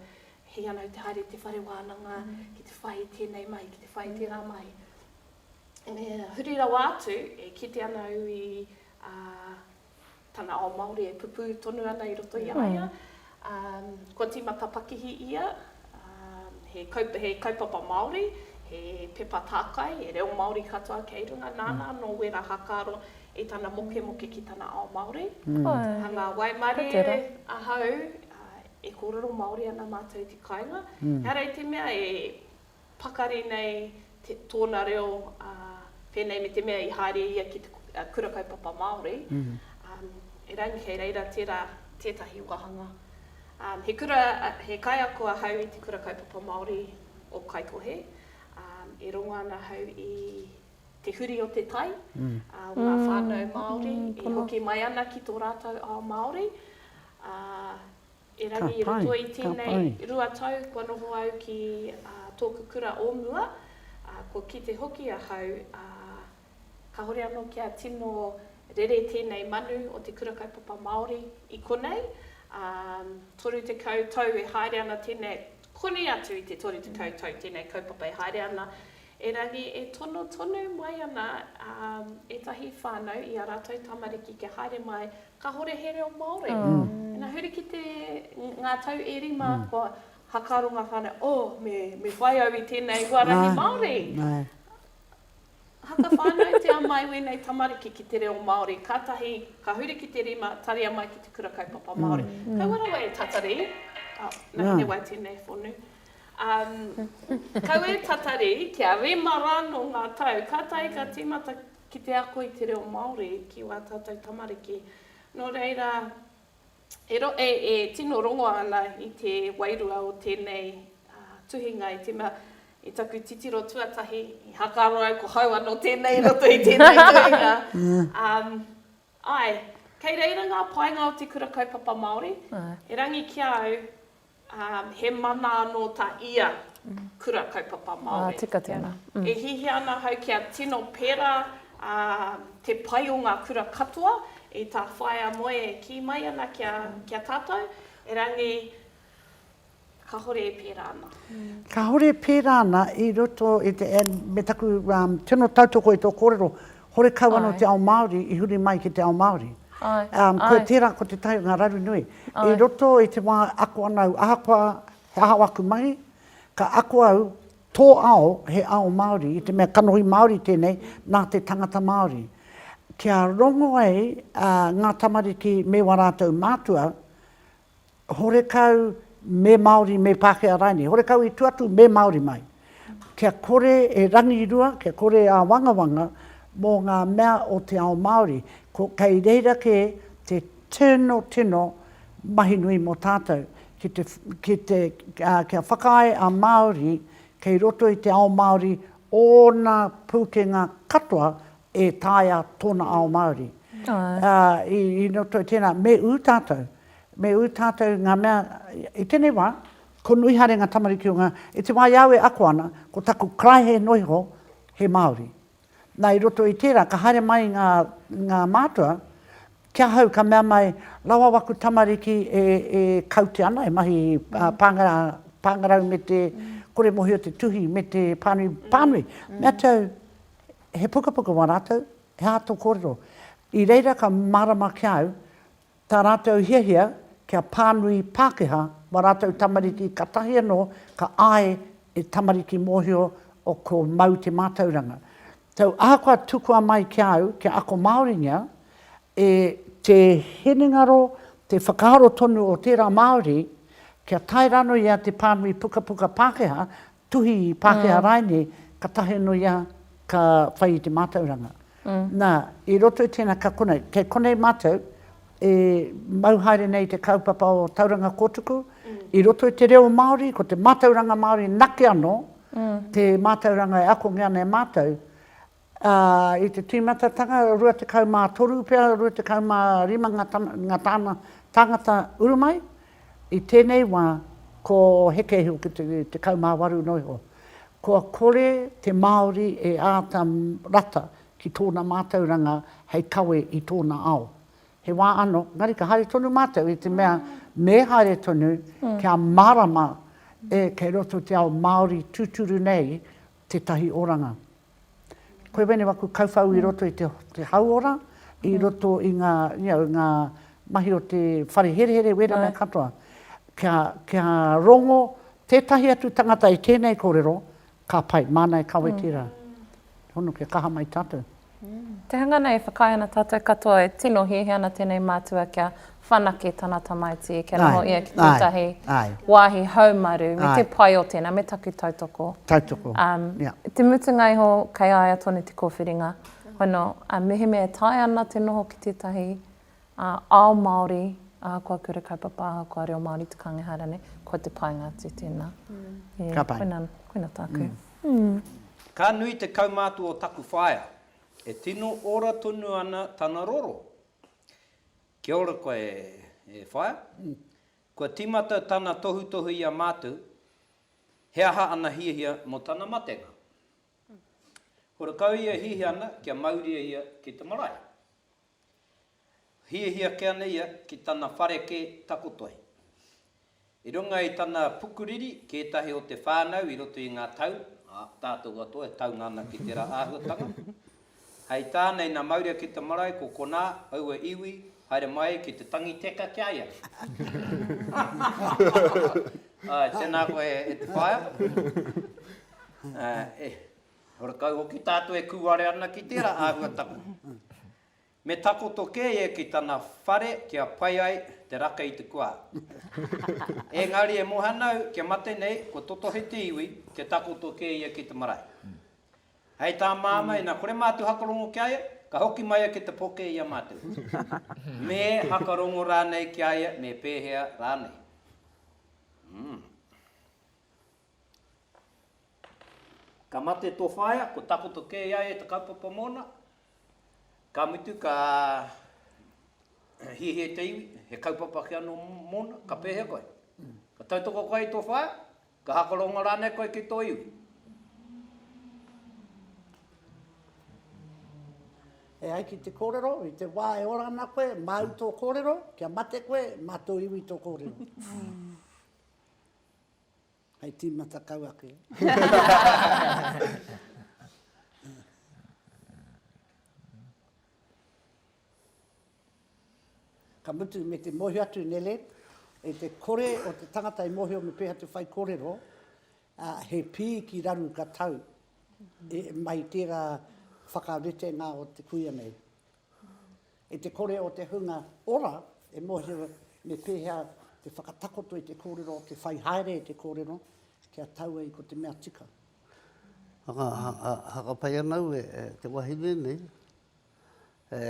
hei ana au te haere i te whare wānanga ki te whai i tēnei mahi, ki te whai i tērā mahi. Huri rawa atu, e kite ana au i, ā, tana ao Māori e pupū tonu ana i roto i a ia. Kua tīmata pakihi ia, he kaupapa Māori, he pepa tākai, he reo Māori katoa kei runga, nāna anō wērā hākaro i tana mokemoke ki tana ao Māori. Hanga waimarie ahau, e kōrero Māori ana mātou ki kāinga, ehara i te mea e. pakari nei tōna reo pēnei me te mea i haere ia ki te Kura Kaupapa Māori, erangi kei reira tērā tētahi wāhanga. He kura, he kaiako ahau i te Kura Kaupapa Māori o Kaikohe, e rongo ana ahau i te huri o te tai, o ngā whānau Māori, e hoki mai ana ki tō rātou ao Māori, ā, Erangi i roto i tēnei rua tau kua noho au ki tōku kura o mua, kua kite hoki ahau, ā, kāore anō kia tino rere tēnei manu o te Kura Kaupapa Māori i konei, ā, 30 tau e haere ana tēnei, konei atu i te 30 tau tēnei kaupapa e haere ana, Erangi e tono tonu mai ana ētahi whānau i ā rātou tamariki kia haere mai kāhore he reo Māori. Ina huri ki te, ngā tau e rima kua hakaaro ngā whānau, oh, me, me whai au i tēnei huarahi Māori. Haka whānautia mai wēnei tamariki ki te reo Māori, kātahi ka huri ki te rima, taria mai ki te kura kaupapa Māori. Kaua rawa e tatari, oh, nā, he wai tēnei whonu. Kau e tatari kia rima rānō ngā tau, ka tae ka tīmata ki te ako i te reo Māori ki wā tātou tamariki. Nō reira, e tino rongo ana i te wairua o tēnei tuhinga i tīmata i taku titiro tuatahi i Hakaroa au, ko hau anō tēnei i roto i tēnei tuhinga. Āe, kei reira ngā painga o te Kura Kaupapa Māori, erangi ki a au, Ā, he mana anō tā ia kura kaupapa Māori. E hihia ana ahau kia tino pērā te pai o ngā kura katoa i tā Whaea Moe e kī mai ana ki a tātou, erangi, kāore e pērā ana. Kāore e pērā ana i roto i te, me taku tino tautoko i tō kōrero, horekau anō te ao Māori i huri mai ki te ao Māori. Koia tērā ko Te Tai o ngā Raru Nui. I roto i te wā e ako ana au, ahakoa he aha aku mahi, ka ako au, tō ao he ao Māori, i te mea kanohi Māori tēnei nā te tangata Māori. Kia rongo ai ngā tamariki me wā rātou mātua, horekau me Māori, me Pākehā rānei, horekau i tua atu me Māori mai. Kia kore e rangirua, kia kore e āwangawanga mō ngā mea o te ao Māori. Ko, kei reira kē te tino, tino mahi nui mō tātou, ki te, ki te, kia whakaae a Māori kei roto i te ao Māori ōna pūkenga katoa e taea tōna ao Māori. I roto i tēnā, me ū tātou, me ū tātou ngā mea, i tēnei wā, ko nui haere ngā tamariki o ngā, i te wā i a au e ako ana, ko taku karaehe noa iho, he Māori. Nā, i roto i tērā, ka haere mai ngā, ngā mātua, ki ahau ka mea mai, rawa waku tamariki e, e kaute ana, e mahi pāngarau, pāngarau me te kore mōhio te tuhi me te pānui, pānui. Mea te au, He pukapuka wā rātou, he aha tō kōrero? I reira ka mārama ki a au tā rātou hiahia kia pānui Pākehā wā rātou tamariki katahi anō ka āe e tamariki mōhio o ko Mau te mātauranga. Tau ahakoa tukua mai ki a au kia ako Māoringia, e. Te hinengaro, te whakaaro tonu o tērā Māori kia tae rānō ia te pānui pukapuka Pākehā tuhi Pākehā rāinei, ka tahi anō ia ka whai i te mātauranga. Nā, i roto i tēnā ka konei, kei konei mātou e mau haere nei i te kaupapa o Tauranga Kōtuku, i roto i te reo Māori, ko te mātauranga Māori nake anō te mātauranga e akongia ana e mātou, ā, i te tīmatatanga, 23 pea, 25 ngā tama, ngā tāna tāngata uru mai, i tēnei wā, ko Heke iho ki te 18 noa iho. Kua kore te Māori e āta rata ki tōna mātauranga hei kawe i tōna ao. He wā anō, engari ka haere tonu mātou i te mea me haere tonu kia mārama e kei roto te ao Māori tūturu nei tētahi oranga. Koe wēnei waku kauwhau i roto i te hauora, i roto i ngā, you know, ngā mahi o te whare herehere, wēnā mea katoa. Kia, kia rongo tētahi atu tangata i tēnei kōrero, ka pai, māna e kawe tērā. Hono kia kaha mai tātou. Te hanga nei e whakaae ana tātou katoa e tino hiahia ana tēnei mātua kia whanake tana tamaiti kia noho ia ki tētahi wāhi haumaru, me te pai o tēnā, me taku tautoko. Tautoko, ia. I te mutunga iho, kei a ia tonu te kōwhiringa, hono, mehemea e taea ana te noho ki tētahi ao Māori, ahakoa kura kaupapa, ahakoa reo Māori te kānga ehara nei, kua te painga atu tēnā. Ka pai. Koinā, koinā tāku. Ka nui te kaumātua o taku whaea, e tino ora tonu ana tana roro. Kia ora koe e whaea. Kua timata tana tohutohu i a matou, he aha ana hiahia mo tana matenga? Horakau ia hiahia ana kia mauria ia ki te marae. Hiahia ake ana ia ki tana whare ke takoto ai. I runga i tana pukuriri, kētahi o te whānau i roto i ngā tau, ā, tātou katoa e taunga ana ki tērā āhuatanga. Hei tā Naina Maurea ki te marae, ko konā, aua iwi, haere mai ki te tangi teka ki a ia. Āe, tēnā koe e te whaea. Ā, e, horekau hoki tātou e kūare ana ki tērā āhuatanga. Me takoto kē ia ki tana whare kia pai ai te raka i te kua. Ēngari e mohana au kia mate nei, kua totohe te iwi, kia takoto kē ia ki te marae. Hei tā Māmā, ina kore mātou hakarongo ki a ia, ka hoki mai ia ki te poke i a mātou. Me hakarongo rānei ki a ia me pēhea rānei? Umm. Ka mate tō whaea, kua takoto kē i a ia te kaupapa mōna, ka mutu ka hiahia te iwi, he kaupapa ake anō mōna, ka pēhea koe? Ka tautoko koe i tō whaea? Ka hakarongo rānei koe ki tō iwi? E ai ki te kōrero, i te wā e ora ana koe, māu tō kōrero, kia mate koe, mā tō iwi tō kōrero. Hei tīmata kau ake. ka mutu me te mōhio atu nele, e te kore o te tangata i mōhio me pēha te whai kōrero, a, he pī ki raru ka tau e, mai tērā whakaritenga o te kuia nei. I te kore o te hunga ora e mōhio me pēhea te whakatakoto i te kōrero, te whai haere i te kōrero, kia tau ai ko te mea tika. Hakapai ana au e te wahine nei, e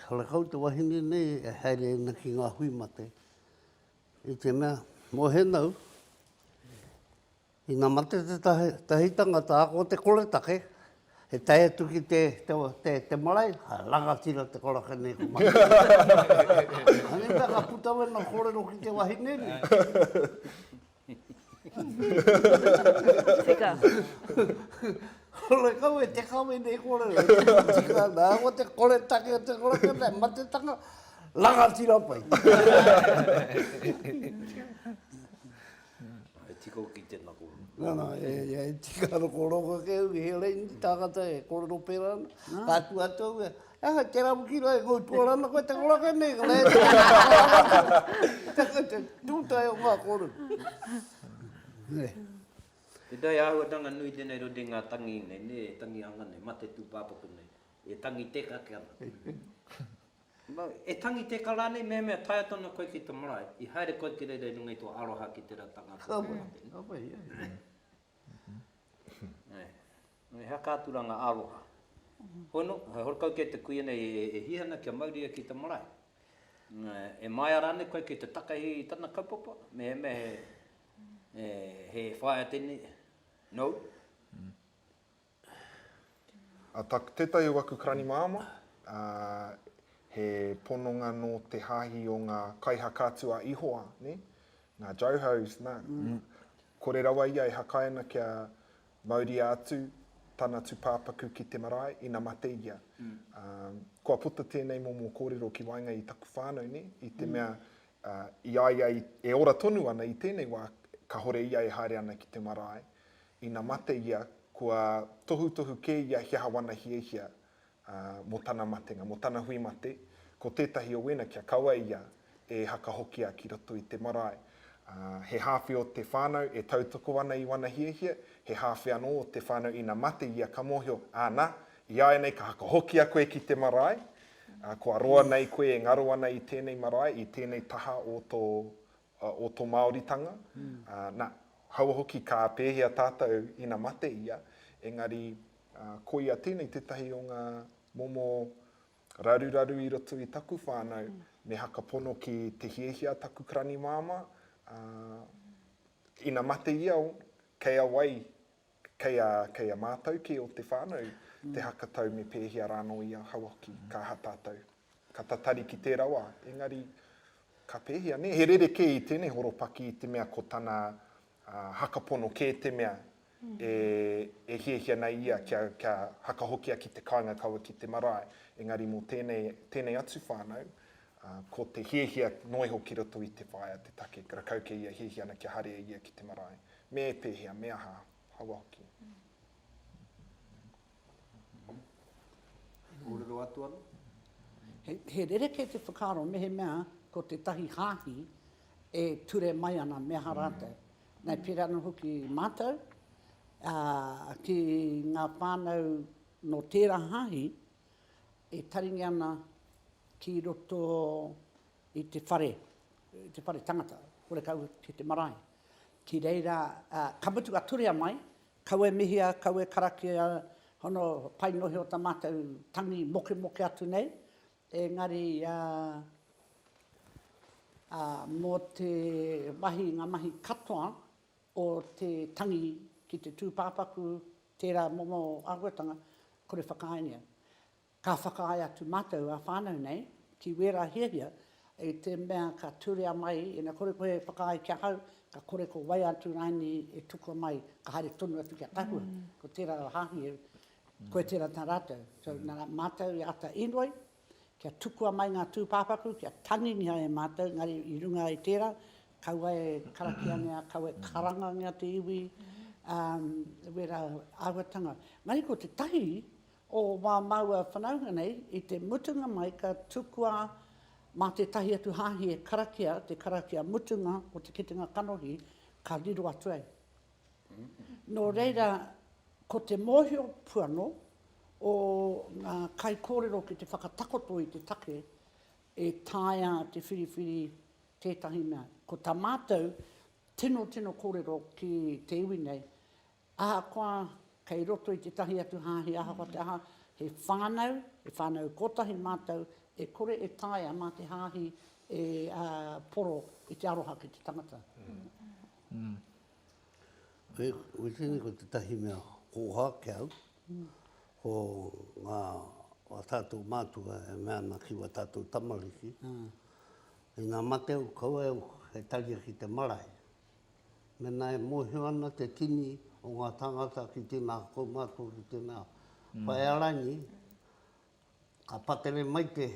karekau te wahine nei e haere ana ki ngā hui mate. I te mea, mōhena au, Ina mate tētahi, tētahi tangata ako te koretake, he tae atu ki te, te, te, te marae, hai, rangatira te koraka nei ko Mahi. Anei pea ka puta wena korero ki te wahine nei. Tika. Hore kau e te kawe nei korero, tika ana, ako te koretake o te koraka nei, matetanga, rangatira pai. E tika au ki tēnā kōrero. Nā, nā, e, e tika rokoroko ake au ki he reini tāngata e kōrero pērā ana. Ka kī atu au ia, e aha, tērā pū ki rohe, koi tuara ana koe te koraka nei, ka mea atu au, tē koe te tūtahi o ngā kōrero. Tēnā he āhuatanga nui tēnei rori i ngā tangi nei, nē, tangi hanga nei, mate tūpāpaku nei, e tangi tēkake ana. Nō, e tangi teka rānei, mehemea taea tonu koe ki te marae, i haere koe ki reira i runga i tō aroha ki tērā tangata tō ngā whenua. Ka pai, ka pai, ē. Nō, he akaaturanga aroha. Hoi nō, he horekau kē te kuia nei e hia ana kia mauria ki te marae. Nō, e māia rānei koe ki te takahi i tana kaupapa, mehemea he, he, he whaea tēnei, nō. Tētahi o aku karani māmā, he pononga nō te hāhi o ngā kaihaka atu a Ihoa, ngā Johos, nā, kore rawa ia e hakaina kia mauria atu tana tūpāpaku ki te marae ina mate ia. Kua puta tēnei momo kōrero ki waenga i taku whānau, nē, i te mea i a ia e ora tonu ana i tēnei wā, kāore ia e haere ana ki te marae, Ina mate ia, kua tohutohu kē ia he aha wana hiahia mō tana matenga, mō tana hui mate, ko tētahi o wēna kia kaua ia e hakahokia ki roto i te marae. He hāwhe o te whānau e tautoko ana i wana hiahia, he hāwhe anō o te whānau ina mate ia ka mōhio, ana, ināianei ka hakahokia koe ki te marae, kua roa nei koe e ngaro ana i tēnei marae, i tēnei taha o tō o to Maoritanga, na, kaua hoki ka pehea tatou ina mate ia, engari koia tenei tetahi o nga momo raruraru i roto i taku whanau, me haka pono ki te hiahia taku karani mama, ina mate ia, kei a wai Kei a, kei a mātou kē o te whānau te haka tau me pēhea rānō i ahau hoki, ka aha tātou? Ka tatari ki tērā wā, engari, ka pēhea nē? He rerekē i tēnei horopaki i te mea ko tana haka pono kē te mea e, e hiahia nei ia kia, kia haka hokia ki te kāinga kaua ki te marae. Engari mō tēnei, tēnei atu whānau, ko te hiahia noa iho ki roto i te whaea te take, rakau kei ia hiahia ana kia haria ia ki te marae. Me pēhea, me aha, aua hoki. E kōrero atu ana? He rerekē te whakaaro mehemea ko tētahi hāhi e ture mai ana me aha rātou. Nā, pērā anō hoki mātou, ki ngā whānau nō tērā hāhi, e taringia ana ki roto i te whare, i te whare tangata, horekau ki te marae. Ki reira, ka mutu a Turea mai, kau e mihia, kau e karakia, hono pai nohi o ta matou tangi mokemoke atu nei, engari mo te mahi, nga mahi katoa o te tangi ki te tupapaku, tera momo ahuatanga, kore whakaaengia. Ka whakaae atu mātou ā whānau nei ki wērā hiahia i te mea ka turea mai, ina kore koe e whakaae ki ahau, ka kore ko wai atu rāini e tukua mai, ka haere tonu atu ki a Tahua, ko tērā o Hāhi, koe tērā tā rātou. So, nā rā mātou i āta inoi kia tukua mai ngā tūpāpaku, kia tangingia e mātou, engari i runga i tērā, kaua e karakiangia, kaua e karangangia te iwi, ā, wērā āhuatanga. Engari ko te tahi, o wā māua whanaunga nei, i te mutunga mai ka tukua mā tētahi atu hāhi e karakia te karakia mutunga o te kitenga kanohi, ka riro atu ai. Nō reira, ko te mōhio puanō o ngā kaikōrero ki te whakatakoto i te take e taea te whiriwhiri tētahi mea. Ko tā mātou tino tino kōrero ki te iwi nei, Ahakoa kei roto i tētahi atu hāhi ahakoa te aha, he whānau, he whānau kotahi mātou, e kore e taea mā te hāhi e poro i te aroha ki te tangata. Koe tēnei ko tētahi mea kōha ki au, ko ngā wā tātou mātua e mea ana ki wā tātou tamariki, ina mate au, kaua au e taria ki te marae. Mēnā e mōhio ana te tini o ngā tāngata ki tēnā kaumātua, ki tēnā whaearaini, ka pakere mai te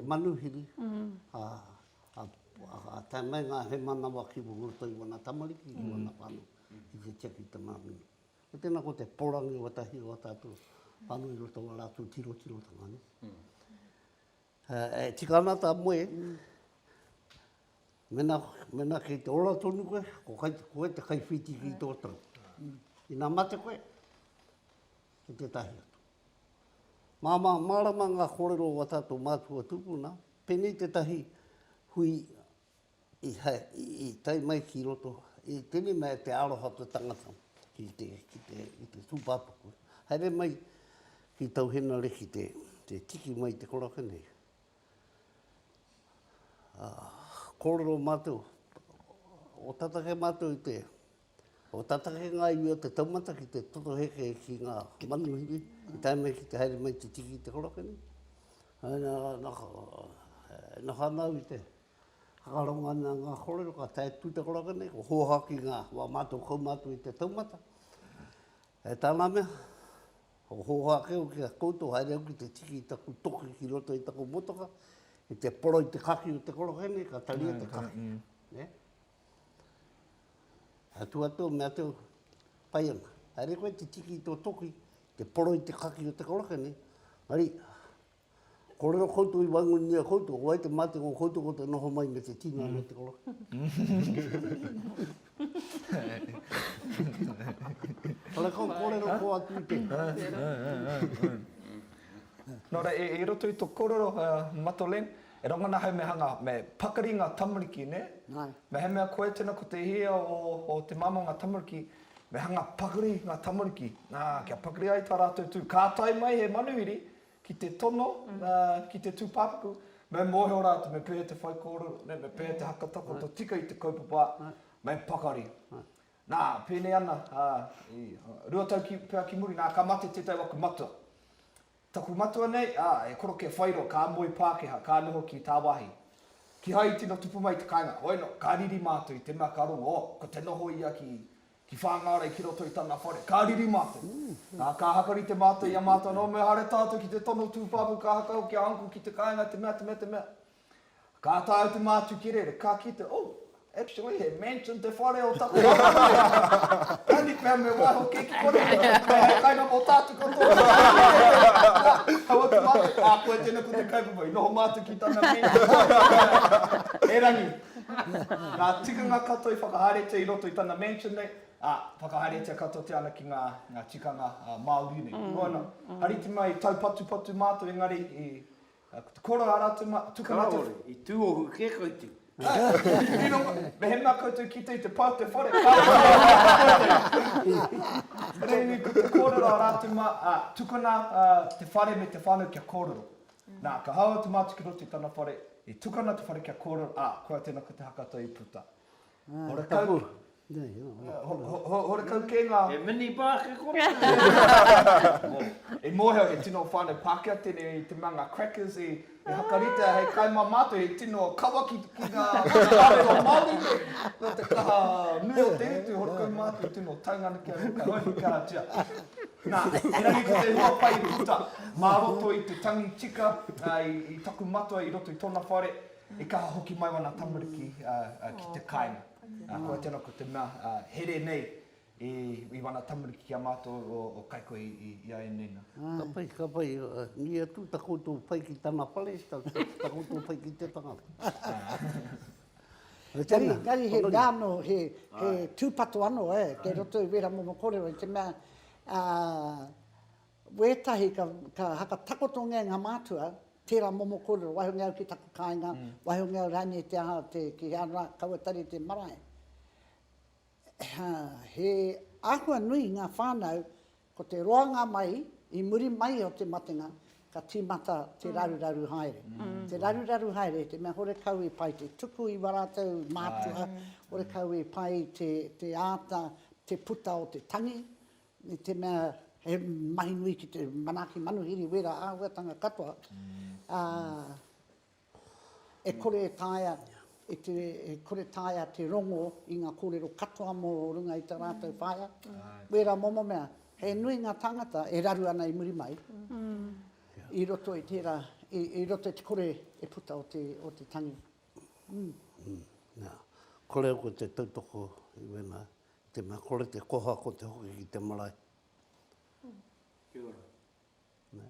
manuhiri, ka tae mai ngā hēmanawa ki roto i wana tamariki, ki wana whānau, ki te tia ki te māmina. Ko tēnā ko te porangi o ētahi o ā tātou whānau i roto i wā rātou tirotiro tanga. E tika ana ta moe, mena, mena kei te ora tonu koe, ko kai, koe te kai whiti ki to tau. Ina mate koe, ki te tahi atu. Ma, ma, marama nga korero wa tato matua tupuna, penei te tahi hui, i tae mai ki roto, i tere mai te aroha o te tangata ki te, ki te, ki te tūpāpaku. Haere mai ki tau henare ki te, te tiki mai te koraka nei. Kōrero mātou, o tatake mātou i te, Ko tata he ngaio te taumata ki te toto heke ki nga manuhiri i tae mai ki te haere mai te tiki i te koroke nei. E noho ana au i te hakarongo ana nga korero ka tae tu te koroke nei, ko hoha ki nga wa matou kaumatu i te taumata. E tana mea, ko hoha ake au ki a koutou haere au ki te tiki i taku toki ki roto i taku motoka, ki te poro i te kaki o te koroke nei ka taria te kaki. Atua tō mea tō pai ana. Haere koe te tiki i tō toki, te poro i te kaki o te karaka nei. Hari, korero koutou i waingungia koutou, wai te mate ngō koutou ko te noho mai me te tino mm. te kolo. Kala kau korero ko atu i te. Nora, e, e roto i to korero, uh, Matolen, E rongona hei mehanga me pakari nga tamariki ne? Ngai. Mehemea koe tena ko te hia o o te mama nga tamariki, me hanga pakari nga tamariki, na, kia pakari ai ta ratou tu. Ka tae mai he manuhiri ki te tono, na, ki te tupapaku, me mohio ratou me pehe te whaikōrero, ne, me pehe te hakatakoto tika i te kaupapa, me pakari. Na, penei ana, a, i, rua tau ki, pea ki muri, na, ka mate tetai o aku matua. Taku matua nei, ā, e koroke whairo, ka moe Pākehā, ka noho ki tāwāhi. Kīhai i tino tupu mai te kāinga. Hoi anō, ka riri mātou i te mea ka rongo, oh, ko te noho ia ki, ki Whāngārei ki roto i tana whare. Ka riri mātou. Ā, ka haka rite mātou i a mātou anō, mehara tātou ki te tono tūwhāmu, ka haka hoki a Uncle ki te kāinga, te mea, te mea, te mea. Ka ata au te mātu ki rere, ka kite, oh, actually he mansion te whare o taku whakamuri. Tani pea me waiho kē ki konei, kei hei kainga o tātu katoa. Kaua te mātu, ā, koe tēnei ko te kaupapa, i noho mātu ki tana mansion. Erangi, ngā tikanga katoa i whakahaeretia i roto i tana mansion nei, ā, whakahaeretia katoatia ana ki ngā tikanga Māori nei. Noana, hariti mai, taupatupatu mātou engari Ko te koro a rātou mā, tuku mā te. Kāore, i tūohu kē koutou. Mehemea koutou kite i te pau te whare, kāore i tūohu kē koutou. Rēnei, ko te kōrero a rātou mā, ā, tukuna te whare me te whānau kia kōrero. Nā, ka haua te mātukiroto i tana whare, i tukuna te whare kia kōrero, ā, koia tēnā ko te hakatau i puta. Horekau. Horekau kē ngā. He mini bāke kona. I mōhio he tino whānau Pākehā tēnei i te mea ngā crackers i hakaritea hei kai mā mātou he tino kawa ki ngā kōrero Māori nei. Nō te kaha nui o te utu horekau mātou tino taunga ana ki a rō ka hoiho kia hatia. Nā, erangi ko te hua pai i puta mā roto i te tangi tika i taku matua i roto i tōna whare. E kaha hoki mai wana tamariki ki te kainga. Koia tena ko te mea here nei i wana tamariki ki a matou o kaikohe i a enei na. Ka pai, ka pai. Nui atu ta koutou pai ki tana pale, ta koutou pai ki te tangata. Engari he mea ano, he tupato ano te roto i wera momo korero i te mea, Wētahi ka, ka haka takotongia ngā mātua, tērā momo kōrero, wahongia au ki taku kāinga, wahongia au rānei te aha, te, ki he ara kaua tari te marae. He, he āhua nui ngā whānau, ko te roanga mai, i muri mai o te matenga, ka tīmata te raruraru haere. Te raruraru haere, te mea horekau i pai te tuku i wā rātou mātua, horekau i pai te, te āta, te puta o te tangi, I te mea he mahi nui ki te manaaki manuhiri wera āhuatanga katoa, ā, e kore e taea, e te, e kore taea te rongo i ngā kōrero katoa mō runga i tā rātou whaea, wera momo mea. He nui ngā tāngata e raru ana i muri mai i roto i tērā, i, i roto i te kore e puta o te, o te tangi. Nā, kore au ko te tautoko i wēnā. Te mea kore te koha ko te hoki ki te marae. Kia ora. Nē.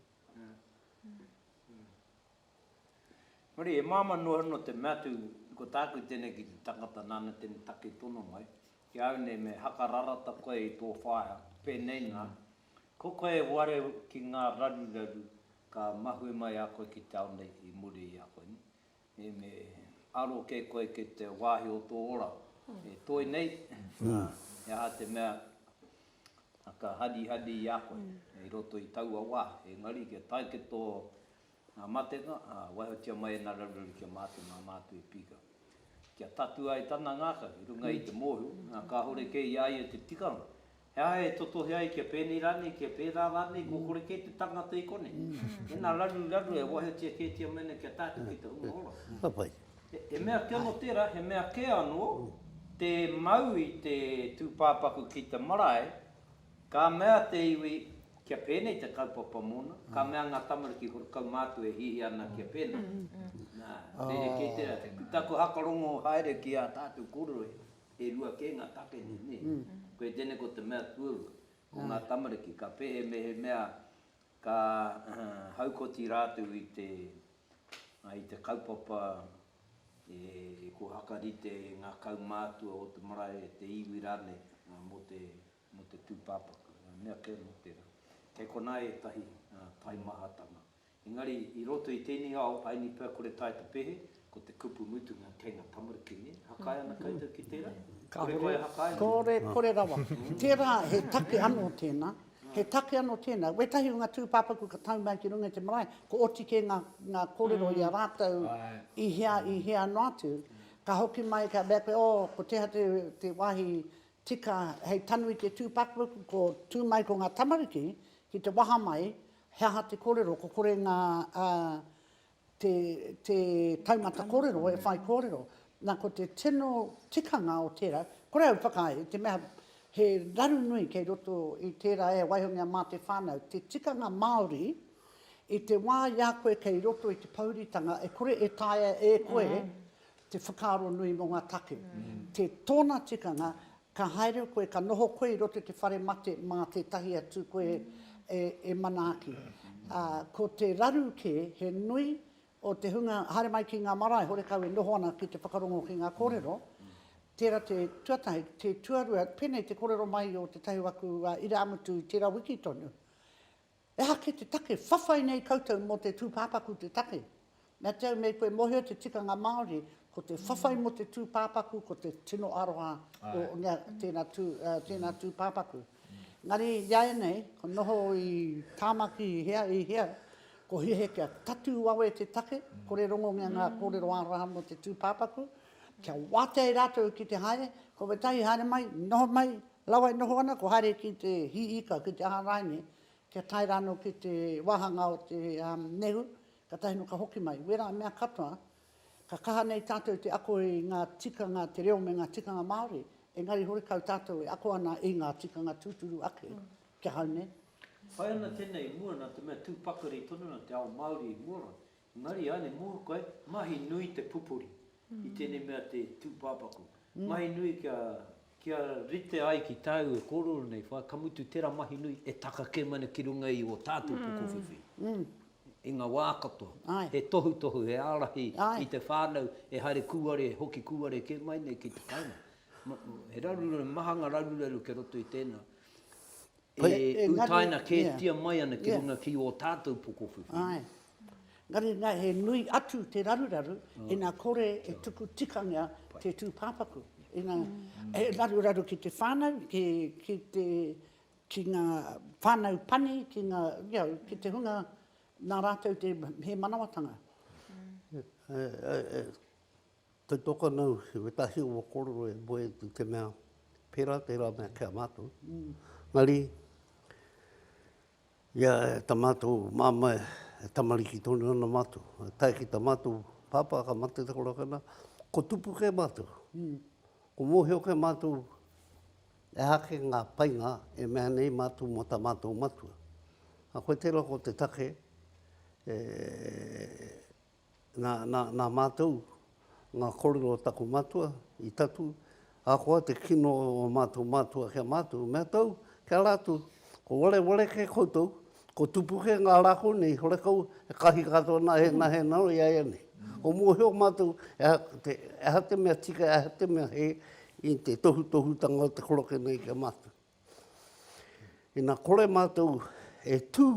Hori, e māma noa no te mea tu, ko tāku tēnei ki te tangata nāna tēnei take tono mai, ki au nei me hakararata koe i tō whaea, pēnei nā, ko koe e ware ki ngā raruraru ka mahue mai a koe ki te ao nei i muri i a koe nei, E me aro ke koe ke te wahi o to ora e toi nei, na, he aha te mea ka hadihadi i a koe i roto i taua wa, engari kia tae ki to matenga, a, waihotia mai ena raruraru ki a matou ma matou e pika. Kia tatu ai tana ngaka ki runga i te mohi, na, kahore kei ia ia te tikanga, He aha e totohe ai kia pēnei rānei, kia pērā rānei, kua kore kē te tangata i konei. Ēnā raruraru e waiotia kētia mai ana ki a tātou ki te hunga ora. Ka pai. He mea kē anō tērā, he mea kē anō te mau i te tūpāpaku ki te marae, ka mea te iwi kia pēnei te kaupapa mōna, ka mea ngā tamariki horokau mātou e hiahia ana kia pēnā. Nā, rerekē tērā. Ko tāku hakarongo haere ki ā tātou kōrero e. E rua kē ngā take nei, nē? Koe tēnei ko te mea tuarua, ko ngā tamariki, ka pehe mehemea ka haukoti rātou i te, i te kaupapa e kua whakarite ngā kaumātua o te marae, te iwi rānei mō te, mō te tūpāpaku, ngā mea kē mō tērā. Kei konā ētahi taimahatanga. Engari, i roto i tēnei ao, Aini pea kore tae te pehe, ko te kupu mutunga kei nga tamariki, ne? Hakae ana koutou ki tera? Kore koe e hakae ana? Kore, kore rawa. Tera, he take ano tena, he take ano tena. Wetahi o nga tupapaku ka tau mai ki runga i te marae, ko oti ke nga, nga korero i a ratou i hea, i hea ano atu. Ka hoki mai ka mea koe, oh, ko teha te, te wahi tika hei tanu i te tupapaku, ko tu mai ko nga tamariki ki te waha mai, He aha te korero? Ko kore nga te taumata korero e whai korero. Na ko te tino tikanga o tera, kore au whakaae, te mea he raru nui kei roto i tera e waihongia ma te whanau, te tikanga Maori i te wa i a koe kei roto i te pouritanga e kore e taea e koe te whakaaro nui mo nga take. Te tona tikanga Ka haere koe, ka noho koe i roto i te whare mate mā tētahi atu koe e manaaki. Ko te raru kē, he nui o te hunga haere mai ki ngā marae horekau e noho ana ki te whakarongo ki ngā kōrero, tērā te tuatahi. Te tuarua, pēnei te kōrero mai o tētahi o aku irāmutu i tērā wiki tonu, E aha kē te take? Whawhai nei koutou mō te tūpāpaku te take. Mea te au me koe mōhio te tikanga Māori, ko te whawhai mō te tūpāpaku ko te tino aroha o tēnā tūpāpaku. Engari i a ianei, ko noho i Tāmaki i hea, i hea, ko hiahia kia tatū wawe te take, kore rongongia ngā kōrero aroha mō te tūpāpaku, kia wātea i rātou ki te haere, kua waitai, haere mai, noho mai, Rawa e noho ana kua haere ki te hī ika, ki te aha rae nei, kia tae rānō ki te wāhanga o te nehu, katahi nō ka hoki mai. Wērā mea katoa, ka kaha nei tātou te ako i ngā tikanga te reo me ngā tikanga Māori, engari horekau tātou e ako ana i ngā tikanga tūturu ake ki ahau nei. Pai ana tēnei i mua nā te mea tū pakari tonu ana te ao Māori i mua rā. Engari i a Ane Mōrukai, mahi nui te pupuri i tēnei mea te tūpāpaku. Mahi nui kia, kia rite ai ki tāu e kōrero nei, whā, ka mutu tērā mahi nui e taka kē mai ana ki runga i ō tātou pukowhiwhi. I ngā wā katoa, he tohutohu, he ārahi i te whānau e haere kūare, e hoki kūare kē mai nei ki te kāinga. He raruraru, he maha ngā raruraru kei roto i tēnā. e utaina kētia mai ana ki runga ki ō tātou pokowhiwhi. Āe. Engari nā, he nui atu te raruraru ina kore e tuku tikangia te tūpāpaku. Ina, he raruraru ki te whānau, ki, ki te, ki ngā whānau pani, ki ngā, you know, ki te hunga nā rātou te, he manawatanga. Te tokanau he wetahi o korero e moe atu te mea pera tera mea ki a matou. Mari, ia e ta matou mama e tamariki tonu ana matou. E tae ki ta matou papa ka mate te korakena, ko tupu ke matou. Ko mohio ke matou e aha ke nga painga e mea nei matou mo ta matou matua. A koe tera ko te take e Nā, nā, nā mātou, ngā kōrero o taku matua, i tatū, ahakoa te kino o mātou matua ki a mātou, mea tau, ki a rātou, ko wareware kē koutou, ko tupu kē ngā rā kō nei, horekau he kahi katoa nā ēnā, he nāu i a ia nei. Ko mōhio mātou, e aha te, e aha te mea tika, e aha te mea hē i te tohutohutanga o te koroke nei ki a mātou. Ina kore mātou e tū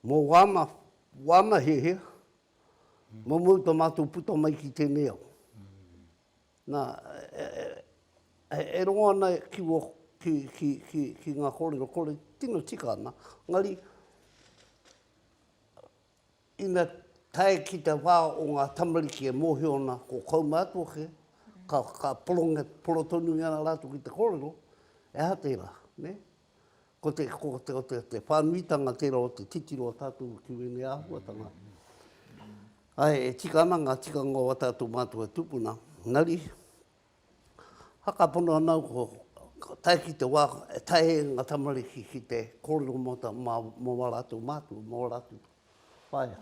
Mō wāna, wāna hēhea, mō mōu tā mātou puta mai ki tēnei ao. Nā, e, e, e, e rongo ana ki, wō, ki, ki, ki, ki ngā kōrero, kore tino tika ana, ngari, ina tae ki te wā o ngā tamariki e mōhio ana ko kaumātua kē, ka, ka poronge, porotonui ana rātou ki te kōrero, e aha tērā, nē? Ko te, ko te, te, te whānuitanga tērā o te titiro o tātou ki wēnei āhuatanga. Ai, e tika ana ngā tikanga o tātou mātua tupuna, nari, hakapono ana au ko, ko tae ki te wā, e tae e ngā tamariki ki te kōrero mō tā, mā, mō wā rātou mātua, mō rātou whaea.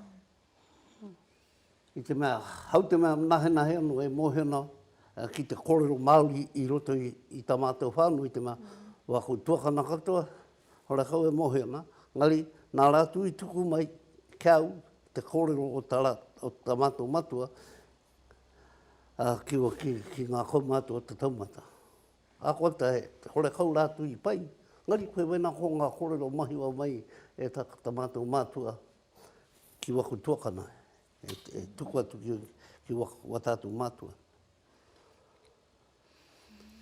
I te mea, hau te mea nahenahe anō e mōhio ana ki te kōrero Māori i roto i tā mātou whānau i te mea, wā ko tuakana katoa, hore kau e mōhio ana, engari nā rātou i tuku mai ki au te kōrero o tā rātou, o tā mātou matua ki ngā kaumātua o te taumata. Ākuata he, hore kau rātou i pai, engari koe wēnā ko ngā kōrero mahiwa mai e tā mātou mātua ki waku tuakana, e tuku atu ki wa tātou mātua.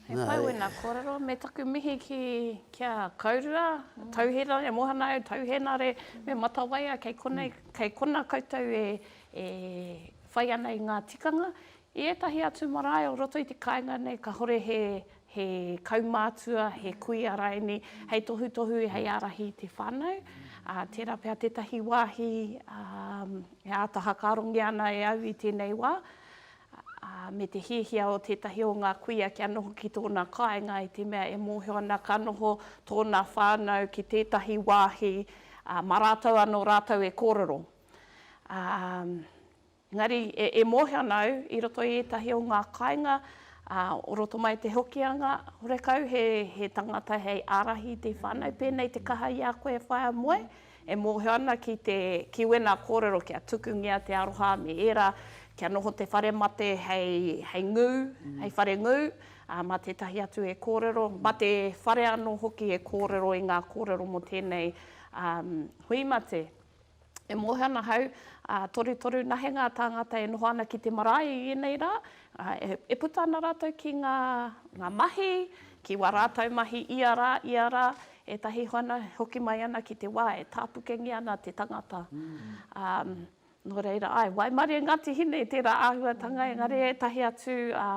He pai wena korero, me taku mihi ki ki a Kaurua, Tauhena, e mohana au, Tauhena re, me Matawaia kei konei, kei kona koutou e e whai ana i nga tikanga. I etahi atu marae o roto i te kainga nei ka hore he he kaumātua, he kuia raini, hei tohutohu, hei ārahi i te whānau. Tērā pea tētahi wāhi e āta hakarongia ana e au i tēnei wā, me te hiahia o tētahi o ngā kuia kia noho ki tōna kāinga i te mea e mōhio ana ka noho tōna whānau ki tētahi wāhi mā rātou anō rātou e kōrero. Engari, e mōhio ana au, i roto i ētahi o ngā kāinga, ā, o roto mai te Hokianga, horekau he, he tangata hei ārahi i te whānau, pēnei te kaha i a koe e whaea moe, e mōhio ana ki te, ki wēnā kōrero kia tukungia te aroha me ērā, kia noho te whare mate hei, hei ngū, hei whare ngū, ā, mā tētahi atu e kōrero, mā te whare anō hoki e kōrero i ngā kōrero mō tēnei, ā, hui mate. E moe ana ahau, ā, torutoru nahe ngā tāngata e noho ana ki te marae i ēnei rā, ā, e, e puta ana rātou ki ngā, ngā mahi, ki wā rātou mahi ia rā, ia rā, ētahi hoana e hoki mai ana ki te wā e tāpukengia ana te tangata. Ā, nō reira, āe, waimarie Ngāti Hine i tērā āhuatanga, engari ētahi atu, ā,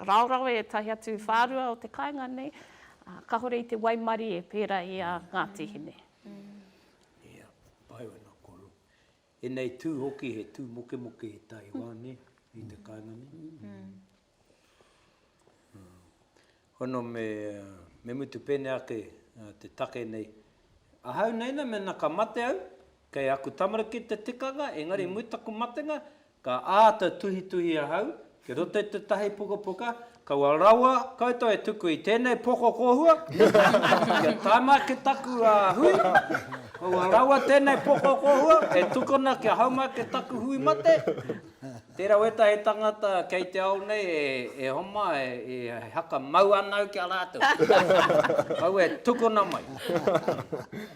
raorawe, ētahi atu whārua o te kāinga nei, ā, kāore i te waimarie pērā i a Ngāti Hine. Ia, pai ana koro. E nei tū hoki he tū mokemoke i Taiwa, ne, i te kāinga nei. Hono me, me mutu pēnei ake te take nei, ahau nei na mena ka mate au, kei aku tamariki te tikanga, engari mui taku matenga, Ka āta tuhituhi ahau, ki roto i tētahi pukapuka, kaua rawa koutou e tuku i tēnei poko kōhua, kia taima ki taku hui, kaua rawa tēnei poko kōhua e tukuna kia haumai ki taku hui mate. Tērā wētahi tangata kei te ao nei e homa, e haka mau anau ki a rātou. Kaua e tukuna mai.